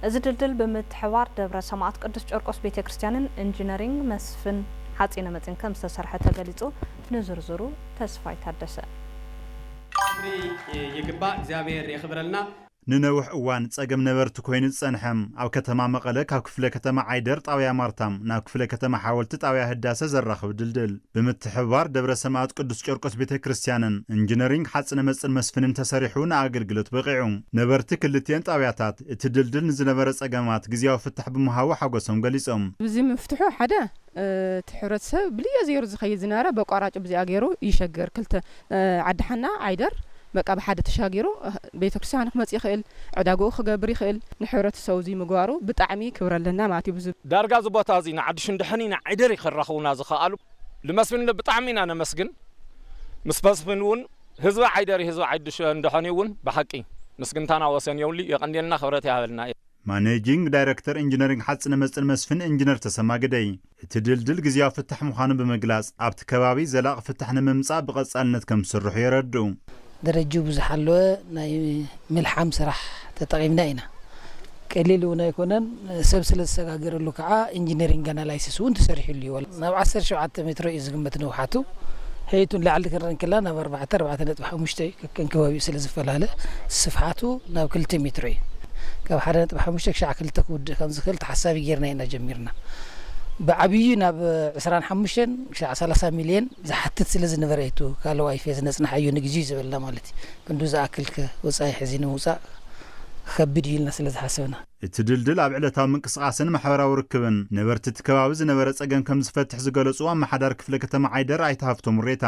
እዚ ድልድል ብምትሕብባር ደብረ ሰማእት ቅዱስ ጨርቆስ ቤተ ክርስቲያንን ኢንጂነሪንግ መስፍን ሓፂነ መፂን ከምዝተሰርሐ ተገሊፁ። ንዝርዝሩ ተስፋይ ታደሰ። ክብሪ ይግባእ እግዚኣብሔር የኽብረልና። ንነውሕ እዋን ፀገም ነበርቲ ኮይኑ ዝፀንሐ ኣብ ከተማ መቐለ ካብ ክፍለ ከተማ ዓይደር ጣብያ ማርታ ናብ ክፍለ ከተማ ሓወልቲ ጣብያ ህዳሰ ዘራኽብ ድልድል ብምትሕብባር ደብረ ሰማእት ቅዱስ ጨርቆስ ቤተ ክርስቲያንን እንጅነሪንግ ሓፅነ መፅን መስፍንን ተሰሪሑ ንኣገልግሎት በቒዑ። ነበርቲ ክልቲኤን ጣብያታት እቲ ድልድል ንዝነበረ ፀገማት ግዝያዊ ፍታሕ ብምሃቡ ሓጎሶም ገሊፆም። ብዚ ምፍትሑ ሓደ እቲ ሕብረተሰብ ብልዮ ዘይሩ ዝኸይድ ዝነበረ በቋራጩ ብዚኣ ገይሩ ይሸገር ክልተ ዓዲ ሓና ዓይደር በቃ ብሓደ ተሻጊሩ ቤተክርስትያኑ ክመጽእ ይኽእል ዕዳግኡ ክገብር ይኽእል ንሕብረተሰቡ እዙይ ምግባሩ ብጣዕሚ ክብሪ ኣለና ማለት እዩ። ዳርጋ እዚ ቦታ እዙይ ንዓዲ ሽንድሕኒ ንዓይደሪ ከራኽቡና ዝኸኣሉ ልመስፍን ብጣዕሚ ኢና ነመስግን ምስ መስፍን እውን ህዝቢ ዓይደሪ ህዝቢ ዓዲ ሽንድሕኒ እውን ብሓቂ ምስግንታና ወሰን የብሉይ የቐንየልና ክብረት ይሃበልና። ማኔጂንግ ዳይረክተር ኢንጂነሪንግ ሓፂነ መፅን መስፍን ኢንጂነር ተሰማ ግደይ፣ እቲ ድልድል ግዝያዊ ፍታሕ ምዃኑ ብምግላፅ፣ ኣብቲ ከባቢ ዘላቒ ፍታሕ ንምምፃእ ብቐፃልነት ከምዝስርሑ የረድኡ። ደረጅኡ ብዝሓለወ ናይ ምልሓም ስራሕ ተጠቒምና ኢና። ቀሊል እውን ኣይኮነን፣ ሰብ ስለዝሰጋገረሉ ከዓ ኢንጂነሪንግ ኣናላይሲስ እውን ተሰሪሑሉ እዩ። ናብ ዓሰርተ ሸውዓተ ሜትሮ እዩ ዝግመት ንውሓቱ፣ ሔይቱ ንላዕሊ ክንርኢ እንክለና ናብ ኣርባዕተ፣ ኣርባዕተ ነጥቢ ሓሙሽተ፣ ክንከባቢኡ ስለ ዝፈላለ ስፍሓቱ ናብ ክልተ ሜትሮ እዩ። ካብ ሓደ ነጥቢ ሓሙሽተ ክሻዕ ክልተ ክውድእ ከም ዝኽእል ተሓሳቢ ገይርና ኢና ጀሚርና። ብዓብይኡ ናብ ዕስራን ሓሙሽተን ክሻዕ ሰላሳ ሚልየን ዝሓትት ስለ ዝነበረ እዩ እቲ ካልእ ዋይፌ ዝነጽናሓዮ ንግዚኡ ዝበልና ማለት እዩ። ክንድኡ ዝኣክልከ ወጻኢ ሕዚ ንምውጻእ ክከብድ እዩ ኢልና ስለ ዝሓሰብና። እቲ ድልድል ኣብ ዕለታዊ ምንቅስቓስን ማሕበራዊ ርክብን ነበርቲ እቲ ከባቢ ዝነበረ ጸገም ከም ዝፈትሕ ዝገለጹ ኣመሓዳሪ ክፍለ ከተማ ዓይደር ኣይተ ሃፍቶም ሬታ፣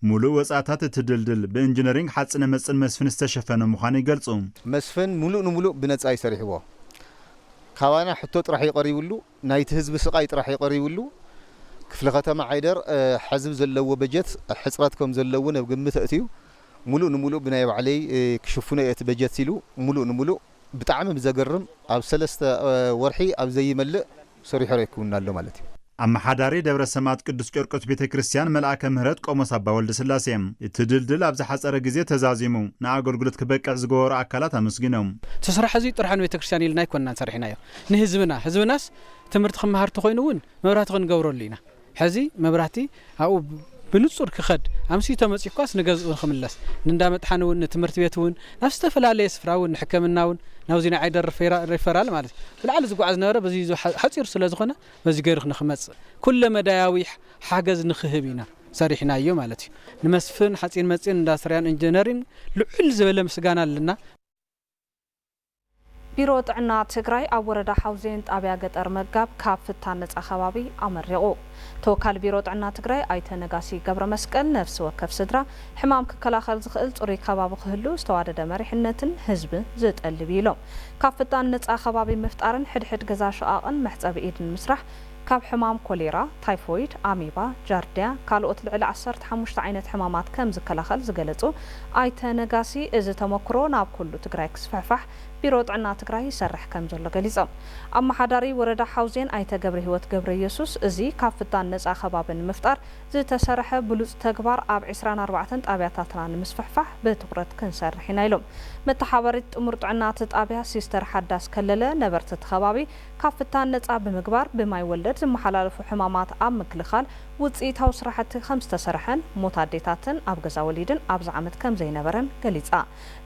ሙሉእ ወፃእታት እቲ ድልድል ብእንጅነሪንግ ሓፅነ መፅን መስፍን ዝተሸፈነ ምዃኑ ይገልፁ። መስፍን ሙሉእ ንሙሉእ ብነፃ እዩ ሰሪሕዎ። ካባና ሕቶ ጥራሕ እዩ ቀሪብሉ፣ ናይቲ ህዝቢ ስቓይ ጥራሕ እዩ ቀሪብሉ። ክፍለ ከተማ ዓይደር ሐዚ ብዘለዎ በጀት ሕፅረት ከም ዘለዎ ነብ ግምት ኣእትዩ ሙሉእ ንሙሉእ ብናይ ባዕለይ ክሽፍኖ እየ እቲ በጀት ኢሉ ሙሉእ ንሙሉእ ብጣዕሚ ብዘገርም ኣብ ሰለስተ ወርሒ ኣብ ዘይመልእ ሰሪሖ ኣረኪቡና ኣሎ ማለት እዩ። ኣመሓዳሪ ደብረ ሰማእት ቅዱስ ቂርቆስ ቤተ ክርስቲያን መልኣከ ምህረት ቆሞስ ኣባ ወልደስላሴ እቲ ድልድል ኣብ ዝሓፀረ ግዜ ተዛዚሙ ንኣገልግሎት ክበቅዕ ዝገበሩ ኣካላት ኣመስጊኖም። እቲ ስራሕ እዙይ ጥርሑ ንቤተ ክርስቲያን ኢልና ኣይኮንናን ሰሪሕናዮ ንህዝብና ህዝብናስ ትምህርቲ ክመሃር ተኾይኑ እውን መብራህቲ ክንገብረሉ ኢና ሕዚ መብራህቲ ኣብኡ ብንጹር ክኸድ ኣምስዩ ተመጺኡኳስ ንገዝኡ ንክምለስ ንእንዳ መጥሓኒ ውን ንትምህርቲ ቤት ውን ናብ ዝተፈላለየ ስፍራ ውን ንሕከምና ውን ናብዚ ናይ ዓይደር ሪፈራል ማለት ብላዕሊ ዝጓዓዝ ዝነበረ በዚ ሓጺር ስለ ዝኾነ በዚ ገይሩ ንክመጽእ ኩለ መዳያዊ ሓገዝ ንክህብ ኢና ሰሪሕናዮ ማለት እዩ ንመስፍን ሓጺን መጺን እንዳስትርያን እንጅነሪን ልዕል ዝበለ ምስጋና ኣለና። ቢሮ ጥዕና ትግራይ ኣብ ወረዳ ሓውዜን ጣብያ ገጠር መጋብ ካብ ፍታን ነፃ ከባቢ ኣመሪቑ። ተወካሊ ቢሮ ጥዕና ትግራይ ኣይተ ነጋሲ ገብረመስቀል ነፍሲ ወከፍ ስድራ ሕማም ክከላኸል ዝኽእል ፅሩይ ከባቢ ክህሉ ዝተዋደደ መሪሕነትን ህዝቢ ዝጠልብ እዩ ኢሎም። ካብ ፍታን ነፃ ከባቢ ምፍጣርን ሕድሕድ ገዛ ሸቓቕን መሕፀቢ ኢድን ምስራሕ ካብ ሕማም ኮሌራ፣ ታይፎይድ፣ ኣሜባ፣ ጃርዲያ ካልኦት ልዕሊ ዓሰርተ ሓሙሽተ ዓይነት ሕማማት ከም ዝከላኸል ዝገለፁ ኣይተ ነጋሲ እዚ ተሞክሮ ናብ ኩሉ ትግራይ ክስፍሕፋሕ ቢሮ ጥዕና ትግራይ ይሰርሕ ከም ዘሎ ገሊፆም። ኣመሓዳሪ ወረዳ ሓውዜን ኣይተ ገብረሂወት ገብረየሱስ እዚ ካብ ፍታን ነፃ ከባቢ ንምፍጣር ዝተሰረሐ ብሉፅ ተግባር ኣብ ዕስራን ኣርባዕተን ጣብያታትና ንምስፍሕፋሕ ብትኹረት ክንሰርሕ ኢና ኢሎም። መተሓባበሪት ጥሙር ጥዕና እቲ ጣብያ ሲስተር ሓዳስ ከለለ ነበርቲ እቲ ከባቢ ካብ ፍታን ነፃ ብምግባር ብማይ ወለድ ዝመሓላለፉ ሕማማት ኣብ ምክልኻል ውፅኢታዊ ስራሕቲ ከምዝተሰርሐን ሞት ኣዴታትን ኣብ ገዛ ወሊድን ኣብዚ ዓመት ከምዘይነበረን ገሊፃ።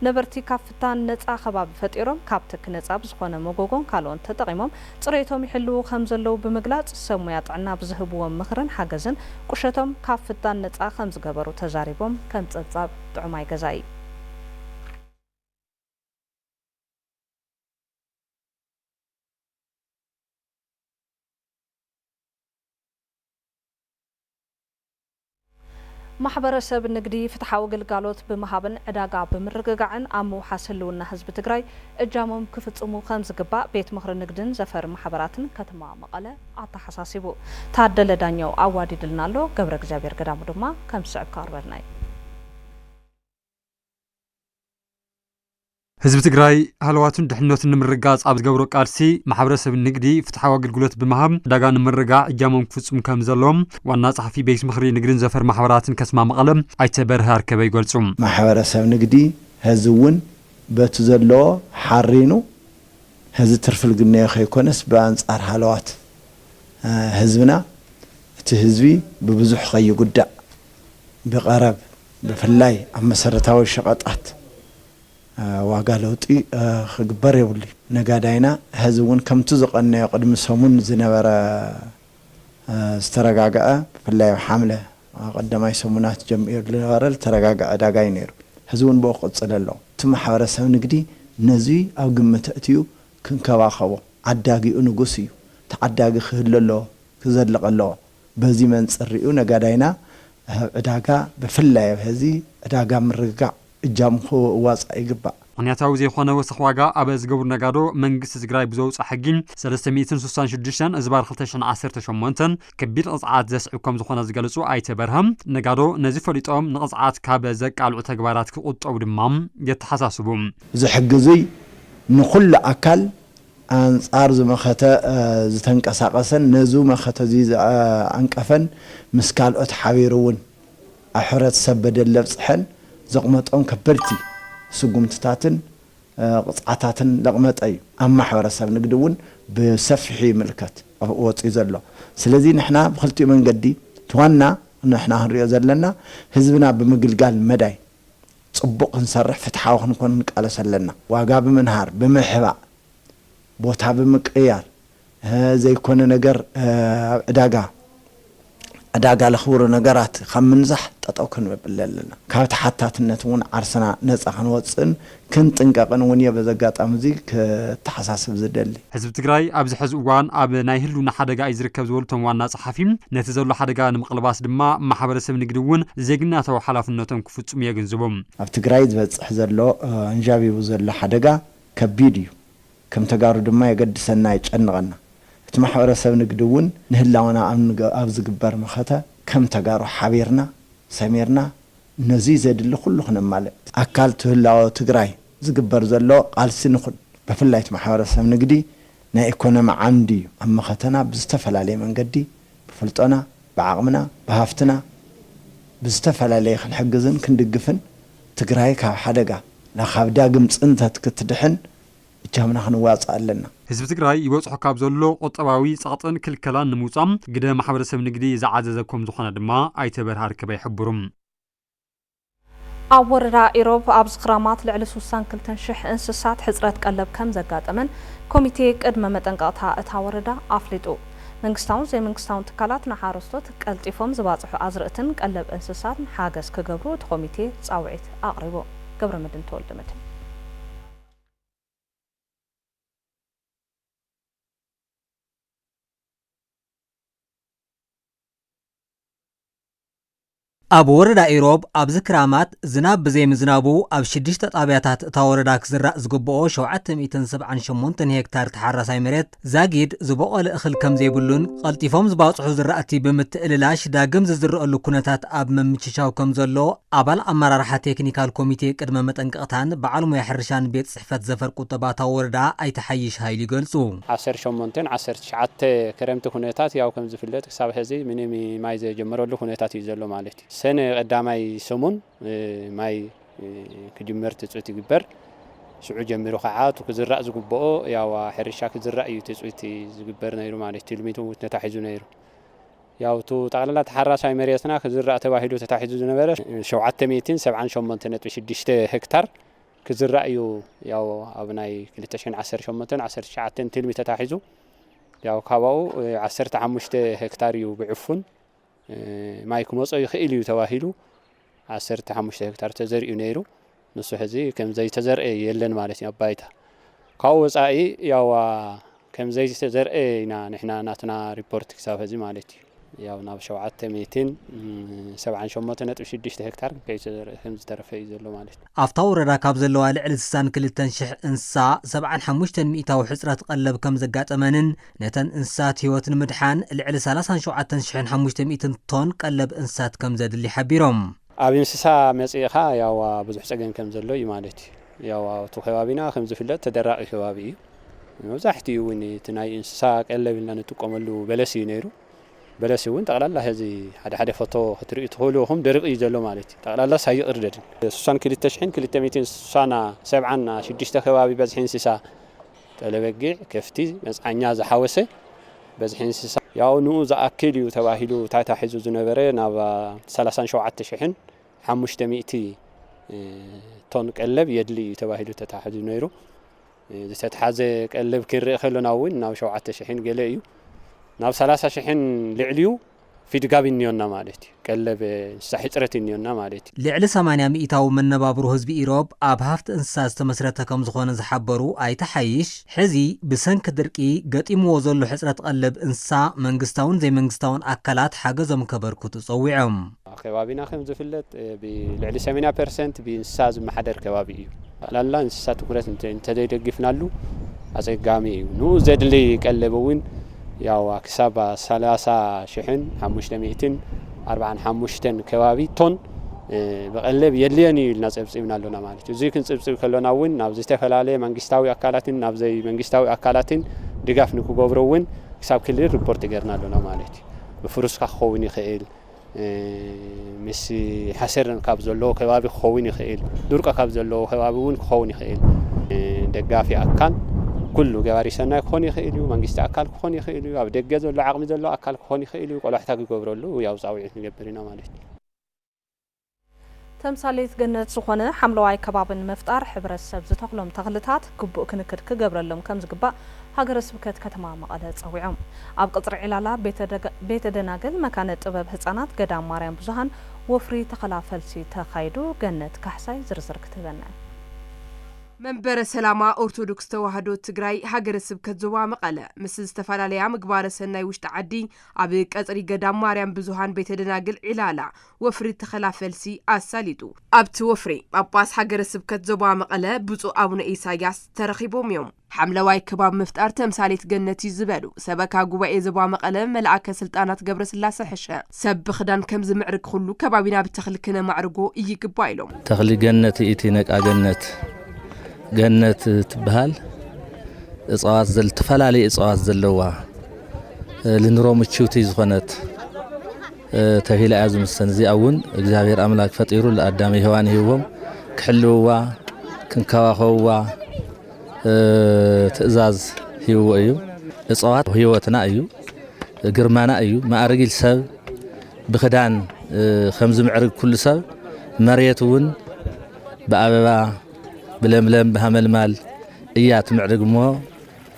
ነበርቲ ካብ ፍታን ነፃ ከባቢ ፈጢሮም ካብ ትኪ ነፃ ብዝኾነ መጎጎን ካልኦን ተጠቒሞም ፅሬቶም ይሕልዉ ከምዘለዉ ብምግላፅ ሰብ ሙያ ጥዕና ብዝህብዎም ምኽርን ሓገዝን ቁሸቶም ካብ ፍታን ነፃ ከምዝገበሩ ተዛሪቦም። ከም ፀብፃብ ጥዑማይ ገዛኢ። ማሕበረሰብ ንግዲ ፍትሓዊ ግልጋሎት ብምሃብን ዕዳጋ ብምርግጋዕን ኣብ ምውሓስ ህልውና ህዝቢ ትግራይ እጃሞም ክፍፅሙ ከምዝግባእ ቤት ምኽሪ ንግድን ዘፈር ማሕበራትን ከተማ መቐለ ኣተሓሳሲቡ። ታደለ ዳኘው ኣዋዲድልና ኣሎ፣ ገብረእግዚኣብሔር ገዳሙ ድማ ከም ዝስዕብ ከቕርበልና እዩ። ህዝቢ ትግራይ ሃለዋቱን ድሕነቱን ንምርግጋፅ ኣብ ዝገብሮ ቃልሲ ማሕበረሰብ ንግዲ ፍትሓዊ ኣገልግሎት ብምሃብ ዕዳጋ ንምርጋዕ እጃሞም ክፍፅሙ ከም ዘለዎም ዋና ፀሓፊ ቤት ምኽሪ ንግድን ዘፈር ማሕበራትን ከተማ መቐለ ኣይተ በርሀ ኣርከበ ይገልፁ። ማሕበረሰብ ንግዲ ሀዚ እውን በቲ ዘለዎ ሓሪኑ ሀዚ ትርፊ ልግነዮ ከይኮነስ ብኣንፃር ሃለዋት ህዝብና እቲ ህዝቢ ብብዙሕ ከይጉዳእ ብቐረብ ብፍላይ ኣብ መሰረታዊ ሸቐጣት ዋጋ ለውጢ ክግበር የብሉይ። ነጋዳይና ሐዚ እውን ከምቲ ዝቐነዮ ቅድሚ ሰሙን ዝነበረ ዝተረጋግዐ ብፍላይ ኣብ ሓምለ ቀዳማይ ሰሙናት ጀሚሩ ዝነበረ ዝተረጋግዐ ዕዳጋ እዩ ነይሩ። ሐዚ እውን ብኡ ክቕፅል ኣለዎ። እቲ ማሕበረሰብ ንግዲ ነዙይ ኣብ ግምት ኣእትዩ ክንከባኸቦ፣ ዓዳጊኡ ንጉስ እዩ። ተዓዳጊ ክህሉ ኣለዎ፣ ክዘልቕ ኣለዎ። በዚ መንፅር ሪኡ ነጋዳይና ኣብ ዕዳጋ ብፍላይ ኣብ ሀዚ ዕዳጋ ምርግጋዕ እጃሙ ክዋፃእ ይግባእ። ምኽንያታዊ ዘይኾነ ወሰኽ ዋጋ ኣብ ዝገብሩ ነጋዶ መንግስቲ ትግራይ ብዘውፅኦ ሕጊ ሰለስተ ሚእትን ስሳን ሽዱሽተን እዝባር ክልተ ሽሕን ዓሰርተ ሸሞንተ ከቢድ ቕፅዓት ዘስዕብ ከምዝኾነ ዝገለፁ ኣይተ በርሀ፣ ነጋዶ ነዚ ፈሊጦም ንቕፅዓት ካብ ዘቃልዑ ተግባራት ክቑጠቡ ድማ የተሓሳስቡ። እዚ ሕጊ እዙይ ንኹሉ ኣካል ኣንጻር እዚ መኸተ ዝተንቀሳቐሰን ነዚ መኸተ እዚ ዝዓንቀፈን ምስ ካልኦት ሓቢሩ እውን ኣብ ሕብረተሰብ በደል ለብጽሐን ዘቕመጦም ከበድቲ ስጉምትታትን ቕጽዓታትን ለቕመጠ እዩ። ኣብ ማሕበረሰብ ንግዲ እውን ብሰፊሑ ይምልከት ወጺኡ ዘሎ። ስለዚ ንሕና ብክልቲኡ መንገዲ እቲ ዋና ንሕና ክንሪኦ ዘለና ህዝብና ብምግልጋል መዳይ፣ ጽቡቕ ክንሰርሕ ፍትሓዊ ክንኮን ንቃለስ ኣለና። ዋጋ ብምንሃር፣ ብምሕባእ፣ ቦታ ብምቅይያር ዘይኮነ ነገር ኣብ ዕዳጋ ዕዳጋ ለኽብሩ ነገራት ካብ ምንዛሕ ጠጠው ክንበብለ ኣለና። ካብ ተሓታትነት እውን ዓርስና ነጻ ክንወጽእን ክንጥንቀቕን እውን እየ በዚ ኣጋጣሚ እዚ ከተሓሳስብ ዝደሊ። ህዝቢ ትግራይ ኣብዚ ሐዚ እዋን ኣብ ናይ ህልውና ሓደጋ እዩ ዝርከብ ዝበሉ እቶም ዋና ፀሓፊ፣ ነቲ ዘሎ ሓደጋ ንምቕልባስ ድማ ማሕበረሰብ ንግዲ እውን ዜግናታዊ ሓላፍነቶም ክፍፅሙ የግንዝቡ። ኣብ ትግራይ ዝበፅሕ ዘሎ ኣንዣቢቡ ዘሎ ሓደጋ ከቢድ እዩ። ከም ተጋሩ ድማ የገድሰና የጨንቐና። እቲ ማሕበረሰብ ንግዲ እውን ንህላወና ኣብ ዝግበር መኸተ ከም ተጋሩ ሓቢርና ሰሚርና ነዙይ ዘድሊ ኩሉ ክነማልእ ኣካል ትህላወ ትግራይ ዝግበር ዘሎ ቃልሲ ንኹን። በፍላይ እቲ ማሕበረሰብ ንግዲ ናይ ኤኮኖሚ ዓንዲ ዩ። ኣብ መኸተና ብዝተፈላለየ መንገዲ ብፍልጦና፣ ብዓቕምና፣ ብሃፍትና ብዝተፈላለየ ክንሕግዝን ክንድግፍን ትግራይ ካብ ሓደጋ፣ ካብ ዳግም ፅንተት ክትድሕን እጃምና ክንዋፃእ ኣለና። ህዝቢ ትግራይ ይበፅሖ ካብ ዘሎ ቁጠባዊ ፀቕጥን ክልከላን ንምውፃእ ግደ ማሕበረሰብ ንግዲ ዝዓዘዘ ኮምዝኾነ ድማ ኣይተ በርሀ ኣርከበ ይሕብሩ። ኣብ ወረዳ ኢሮብ ኣብዚ ክራማት ልዕሊ ስሳን ክልተን ሽሕ እንስሳት ሕፅረት ቀለብ ከምዘጋጠመን ኮሚቴ ቅድመ መጠንቀቕታ እታ ወረዳ ኣፍሊጡ። መንግስታውን ዘይመንግስታውን ትካላት ንሓረስቶት ቀልጢፎም ዝባፅሑ ኣዝርእትን ቀለብ እንስሳትን ሓገዝ ክገብሩ እቲ ኮሚቴ ፃውዒት ኣቕሪቡ። ገብረመድህን ተወልደመድህን። ኣብ ወረዳ ኢሮብ ኣብዚ ክራማት ዝናብ ብዘይምዝናቡ ኣብ ሽዱሽተ ጣብያታት እታ ወረዳ ክዝራእ ዝግብኦ ሸውዓተ ሚእትን ሰብዓን ሸሞንተን ሄክታር ተሓራሳይ መሬት ዛጊድ ዝቦቐለ እኽል ከምዘይብሉን ቐልጢፎም ዝባፅሑ ዝራእቲ ብምትእልላሽ ዳግም ዝዝረእሉ ኩነታት ኣብ ምምችቻው ከምዘሎ ኣባል ኣመራርሓ ቴክኒካል ኮሚቴ ቅድመ መጠንቀቕታን በዓል ሞያ ሕርሻን ቤት ፅሕፈት ዘፈር ቁጠባ እታ ወረዳ ኣይተ ሓይሽ ሃይሉ ይገልፁ። ዓሰርተ ሸሞንተን ዓሰርተ ትሽዓተ ክረምቲ ኩነታት ያው ከምዝፍለጥ ክሳብ ሐዚ ምንም ማይ ዘይጀመረሉ ኩነታት እዩ ዘሎ ማለት እዩ። ሰነ ቀዳማይ ሰሙን ማይ ክጅመር ትፅቢት ይግበር። ሽዑ ጀሚሩ ከዓ እቲ ክዝራእ ዝግብኦ ያዋ ሕርሻ ክዝራእ እዩ ትፅቢት ዝግበር ነይሩ ማለት እዩ። ትልሚት እውን ተታሒዙ ነይሩ። ያው እቲ ጠቕላላ ተሓራሳይ መሬትና ክዝራእ ተባሂሉ ተታሒዙ ዝነበረ ሸውዓተ ሚእትን ሰብዓን ሸሞንተ ነጥቢ ሽዱሽተ ሄክታር ክዝራእ እዩ ያው ኣብ ናይ ክልተ ሽሕን ዓሰርተ ሸሞንተን ዓሰርተ ትሽዓተን ትልሚ ተታሒዙ ያው ካባኡ ዓሰርተ ሓሙሽተ ሄክታር እዩ ብዕፉን ማይ ክመፆ ይኽእል እዩ ተባሂሉ ዓሰርተ ሓሙሽተ ሄክታር ተዘሪኡ ነይሩ። ንሱ ሕዚ ከም ዘይተዘርኤ የለን ማለት እዩ ኣብ ባይታ። ካብኡ ወፃኢ ያው ከም ዘይተዘርኤ ኢና ንሕና ናትና ሪፖርት ክሳብ ሕዚ ማለት እዩ። ያው ናብ ሸውዓተ ሚእትን ሰብዓን ሸሞንተ ነጥቢ ሽዱሽተ ሄክታር ከይተዘርኤ ከም ዝተረፈ እዩ ዘሎ ማለት እዩ። ኣብታ ወረዳ ካብ ዘለዋ ልዕሊ ስሳን ክልተን ሽሕ እንስሳ ሰብዓን ሓሙሽተን ሚኢታዊ ሕፅረት ቐለብ ከምዘጋጠመንን ነተን እንስሳት ህይወት ንምድሓን ልዕሊ ሰላሳን ሸውዓተን ሽሕን ሓሙሽተ ሚእትን ቶን ቀለብ እንስሳት ከምዘድሊ ሓቢሮም። ኣብ እንስሳ መፅእኻ ያው ብዙሕ ፀገም ከምዘሎ እዩ ማለት እዩ። ያው ኣብቲ ከባቢና ከምዝፍለጥ ተደራቒ ከባቢ እዩ። መብዛሕቲኡ እውን እቲ ናይ እንስሳ ቀለብ ኢልና ንጥቀመሉ በለስ እዩ ነይሩ። በለስ እውን ጠቅላላ ሐዚ ሓደ ሓደ ፎቶ ክትሪኡ ትክእሉ ኢኩም ደሪቁ እዩ ዘሎ ማለት እዩ ጠቅላላስ ኣይቅርደድን ስሳን ክልተ ሽሕን ክልተ ሚእትን ስሳን ሰብዓን ሽዱሽተ ከባቢ በዝሒ እንስሳ ጠለ በጊዕ ከፍቲ መፅዓኛ ዝሓወሰ በዝሒ እንስሳ ያው ንኡ ዝኣክል እዩ ተባሂሉ ታይታ ሒዙ ዝነበረ ናብ ሰላሳን ሸውዓተ ሽሕን ሓሙሽተ ሚእቲ ቶን ቀለብ የድሊ እዩ ተባሂሉ ተታሒዙ ነይሩ ዝተትሓዘ ቀለብ ክንርኢ ከሎና እውን ናብ ሸውዓተ ሽሕን ገለ እዩ ናብ ሰላሳ ሽሕን ልዕሊኡ ፊድጋብ እኒዮና ማለት እዩ ቀለብ እንስሳ ሕፅረት እኒዮና ማለት እዩ። ልዕሊ ሰማንያ ሚኢታዊ መነባብሮ ህዝቢ ኢሮብ ኣብ ሃፍቲ እንስሳ ዝተመስረተ ከምዝኾነ ዝሓበሩ ኣይተ ሓይሽ፣ ሕዚ ብሰንኪ ድርቂ ገጢምዎ ዘሎ ሕፅረት ቐለብ እንስሳ መንግስታውን ዘይመንግስታውን ኣካላት ሓገዞም ከበርክቱ ፀዊዖም። ኣብ ከባቢና ከም ዝፍለጥ ብልዕሊ ሰመንያ ፐርሰንት ብእንስሳ ዝመሓደር ከባቢ እዩ። ጠቕላላ እንስሳ ትኩረት እንተዘይደጊፍናሉ ኣፀጋሚ እዩ። ንኡ ዘድሊ ቀለብ እውን ያው ክሳብ ሰላሳ ሽሕን ሓሙሽተ ሚእትን ኣርብዓን ሓሙሽተን ከባቢ ቶን ብቐለብ የድልየን እዩ ኢልና ፀብፂብና ኣሎና ማለት እዩ። እዙይ ክንፅብፅብ ከሎና እውን ናብ ዝተፈላለየ መንግስታዊ ኣካላትን ናብ ዘይመንግስታዊ ኣካላትን ድጋፍ ንክገብሩ እውን ክሳብ ክልል ሪፖርት ገይርና ኣሎና ማለት እዩ። ብፍሩስካ ክኸውን ይኽእል፣ ምስ ሓሰር ካብ ዘለዎ ከባቢ ክኸውን ይኽእል፣ ድርቆ ካብ ዘለዎ ከባቢ እውን ክኸውን ይኽእል። ደጋፊ ኣካል ኩሉ ገባሪ ሰናይ ክኾን ይኽእል እዩ፣ መንግስቲ ኣካል ክኾን ይኽእል እዩ፣ ኣብ ደገ ዘሎ ዓቕሚ ዘለዎ ኣካል ክኾን ይኽእል እዩ፣ ቆላሕታ ክገብረሉ ያው ፃውዒት ንገብር ኢና ማለት እዩ። ተምሳሌት ገነት ዝኾነ ሓምለዋይ ከባቢ ንምፍጣር ሕብረተሰብ ዝተኽሎም ተኽልታት ግቡእ ክንክን ክገብረሎም ከምዝግባእ ሃገረ ስብከት ከተማ መቐለ ፀዊዖም። ኣብ ቕፅሪ ዒላላ ቤተ ደናግል መካነ ጥበብ ህፃናት ገዳም ማርያም ብዙሃን ወፍሪ ተኸላ ፈልሲ ተኻይዱ ገነት ካሕሳይ ዝርዝር ክትህበና እያ። መንበረ ሰላማ ኦርቶዶክስ ተዋህዶ ትግራይ ሃገረ ስብከት ዞባ መቐለ ምስ ዝተፈላለያ ምግባረ ሰናይ ውሽጢ ዓዲ ኣብ ቀፅሪ ገዳም ማርያም ብዙሃን ቤተ ደናግል ዒላላ ወፍሪ ተኸላ ፈልሲ ኣሳሊጡ። ኣብቲ ወፍሪ፣ ጳጳስ ሃገረ ስብከት ዞባ መቐለ ብፁዕ ኣቡነ ኢሳይያስ ተረኺቦም እዮም። ሓምለዋይ ከባቢ ምፍጣር ተምሳሌት ገነት እዩ ዝበሉ ሰበካ ጉባኤ ዞባ መቐለ መልኣከ ስልጣናት ገብረስላሰ ሕሸ፣ ሰብ ብኽዳን ከም ዝምዕርግ ኹሉ ከባቢና ብተኽሊ ክነማዕርጎ ይግባእ ኢሎም። ተኽሊ ገነት እቲ ነቃ ገነት ገነት ትበሃል እፅዋት ዘል ተፈላለዩ እፅዋት ዘለዋ ልንሮ ምችውቲ ዝኾነት ተብሂላ እያ ዝምሰን እዚኣ እውን እግዚኣብሔር ኣምላክ ፈጢሩ ለኣዳም ሔዋን ሂብዎም ክሕልውዋ ክንከባኸብዋ ትእዛዝ ሂብዎ እዩ እፀዋት ህይወትና እዩ ግርማና እዩ ማእርጊል ሰብ ብክዳን ከምዝምዕርግ ኩሉ ሰብ መሬት እውን ብኣበባ ብለምለም ብሃመልማል እያ ትምዕርግ እሞ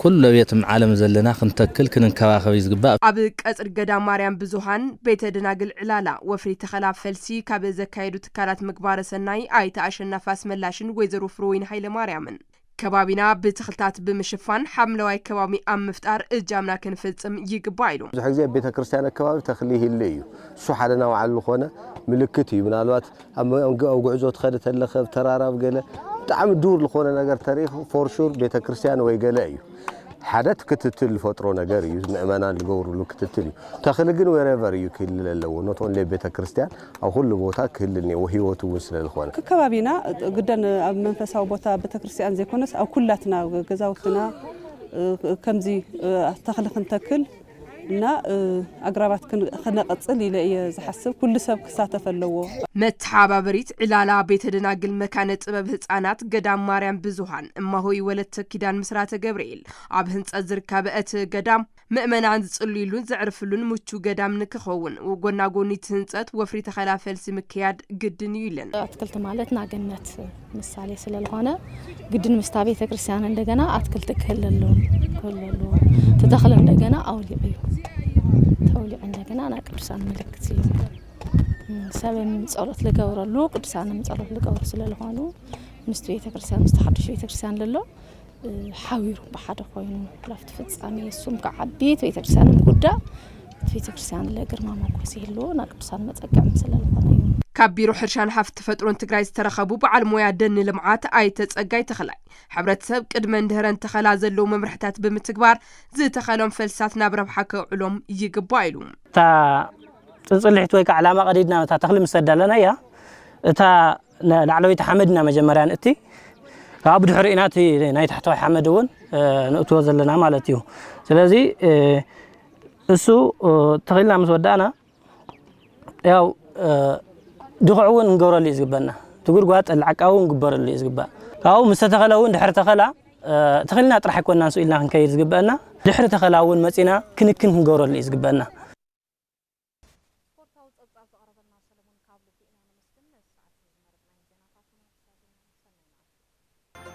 ኩሉ ኣብ የትም ዓለም ዘለና ክንተክል ክንንከባኸብ እዩ ዝግባእ። ኣብ ቀጽሪ ገዳም ማርያም ብዙሃን፣ ቤተ ደናግል ዕላላ፣ ወፍሪ ተኸላ ፈልሲ ካብ ዘካየዱ ትካላት ምግባረ ሰናይ ኣይተ ኣሸናፊ ኣስመላሽን ወይዘሮ ፍርወይኒ ሃይለማርያምን፣ ከባቢና ብተኽልታት ብምሽፋን ሓምለዋይ ከባቢ ኣብ ምፍጣር እጃምና ክንፍጽም ይግባእ ኢሉ። ብዙሕ ግዜ ኣብ ቤተ ክርስቲያን ኣከባቢ ተኽሊ ይህሉ እዩ። እሱ ሓደ ናባዕሉ ልኾነ ምልክት እዩ። ምናልባት ኣብ መንገ ኣብ ጉዕዞ ትኸድ ተለኽ ኣብ ተራራ ኣብ ገለ ብጣዕሚ ዱር ልኾነ ነገር ተሪኽ ፎርሹር ቤተ ክርስቲያን ወይ ገለ እዩ ሓደ ክትትል ልፈጥሮ ነገር እዩ ምእመናን ልገብሩሉ ክትትል እዩ ተኽሊ ግን ወረቨር እዩ ክህልል ኣለዎ ኖት ኦንሌ ቤተ ክርስቲያን ኣብ ኩሉ ቦታ ክህልል ነዎ ህይወቱ እውን ስለ ልኾነ ከከባቢና ግደን ኣብ መንፈሳዊ ቦታ ቤተ ክርስቲያን ዘይኮነስ ኣብ ኩላትና ገዛውትና ከምዚ ተኽሊ ክንተክል እና ኣግራባት ክነቐፅል ኢለ እየ ዝሓስብ ኩሉ ሰብ ክሳተፍ ኣለዎ። መተሓባበሪት ዕላላ ቤተ ደናግል መካነ ጥበብ ህፃናት ገዳም ማርያም ብዙኃን እማሆይ ወለተ ኪዳን ምስራተ ገብርኤል ኣብ ህንፀት ዝርካበ እቲ ገዳም ምእመናን ዝፅልዩሉን ዘዕርፍሉን ምቹው ገዳም ንክኸውን ጎናጎኒ እቲ ህንፀት ወፍሪ ተኸላ ፈልሲ ምክያድ ግድን እዩ ኢለን። ኣትክልቲ ማለት ናገነት ምሳሌ ስለልኾነ ግድን ምስታ ቤተ ክርስቲያን እንደገና ኣትክልቲ ክህለሉ ክህለሉ ትተኽል እንደገና ኣውሊዕ እዩ ተውሊዕ እንደገና ናይ ቅዱሳን ምልክት እዩ ሰብም ጸሎት ልገብረሉ ቅዱሳንም ጸሎት ልገብሩ ስለልኾኑ ምስቲ ቤተ ክርስቲያን ምስቲ ሓዱሽ ቤተ ክርስቲያን ለሎ ሓቢሩ ብሓደ ኮይኑ ካብቲ ፍጻሜ እሱም ክዓቢ እቲ ቤተክርስትያን ክጉዳእ እቲ ቤተክርስትያን ለግርማ ሞጎስ ይህልዎ ናብ ቅዱሳን መጸገዕም ስለዝኾነ እዩ ካብ ቢሮ ሕርሻን ሃፍቲ ተፈጥሮን ትግራይ ዝተረኸቡ በዓል ሞያ ደን ልምዓት ኣይተ ጸጋይ ተኽላይ ሕብረተሰብ ቅድመን ድህረን ተኸላ ዘለዉ መምርሕታት ብምትግባር ዝተኸሎም ፈልስታት ናብ ረብሓ ከውዕሎም ይግባእ ኢሉ። እታ ፅንፅሊሒት ወይ ከዓ ዕላማ ቀዲድና እታ ተኽሊ ምስ ኣዳለናያ እታ ላዕለወይቲ ሓመድ ኢና መጀመርያ ንእቲ ካብኣ ብድሕሪኡ ኢና እቲ ናይ ታሕተዋይ ሓመድ እውን ንእትዎ ዘለና ማለት እዩ ስለዚ እሱ ተኺልና ምስ ወዳእና ያው ድኹዕ እውን ንገብረሉ እዩ ዝግበና እቲ ጉድጓድ ጠላዕቃዊ እውን ግበረሉ እዩ ዝግባእ ካብኡ ምስ ተተኸለ እውን ድሕሪ ተኸላ ተኺልና ጥራሕ ኣይኮና ንሱ ኢልና ክንከይድ ዝግበአና ድሕሪ ተኸላ እውን መፂና ክንክን ክንገብረሉ እዩ ዝግበአና ስፖርታዊ ጸብጻብ ዘቕረበልና ሰለሙን ካብ ልቢ ኢና ነመስግን። ነዚ ሰዓት እዚ ዝመረጽናዮም ዜናታት ውን ኣብዚ ዳጊና። ሰናይ መዓልቲ።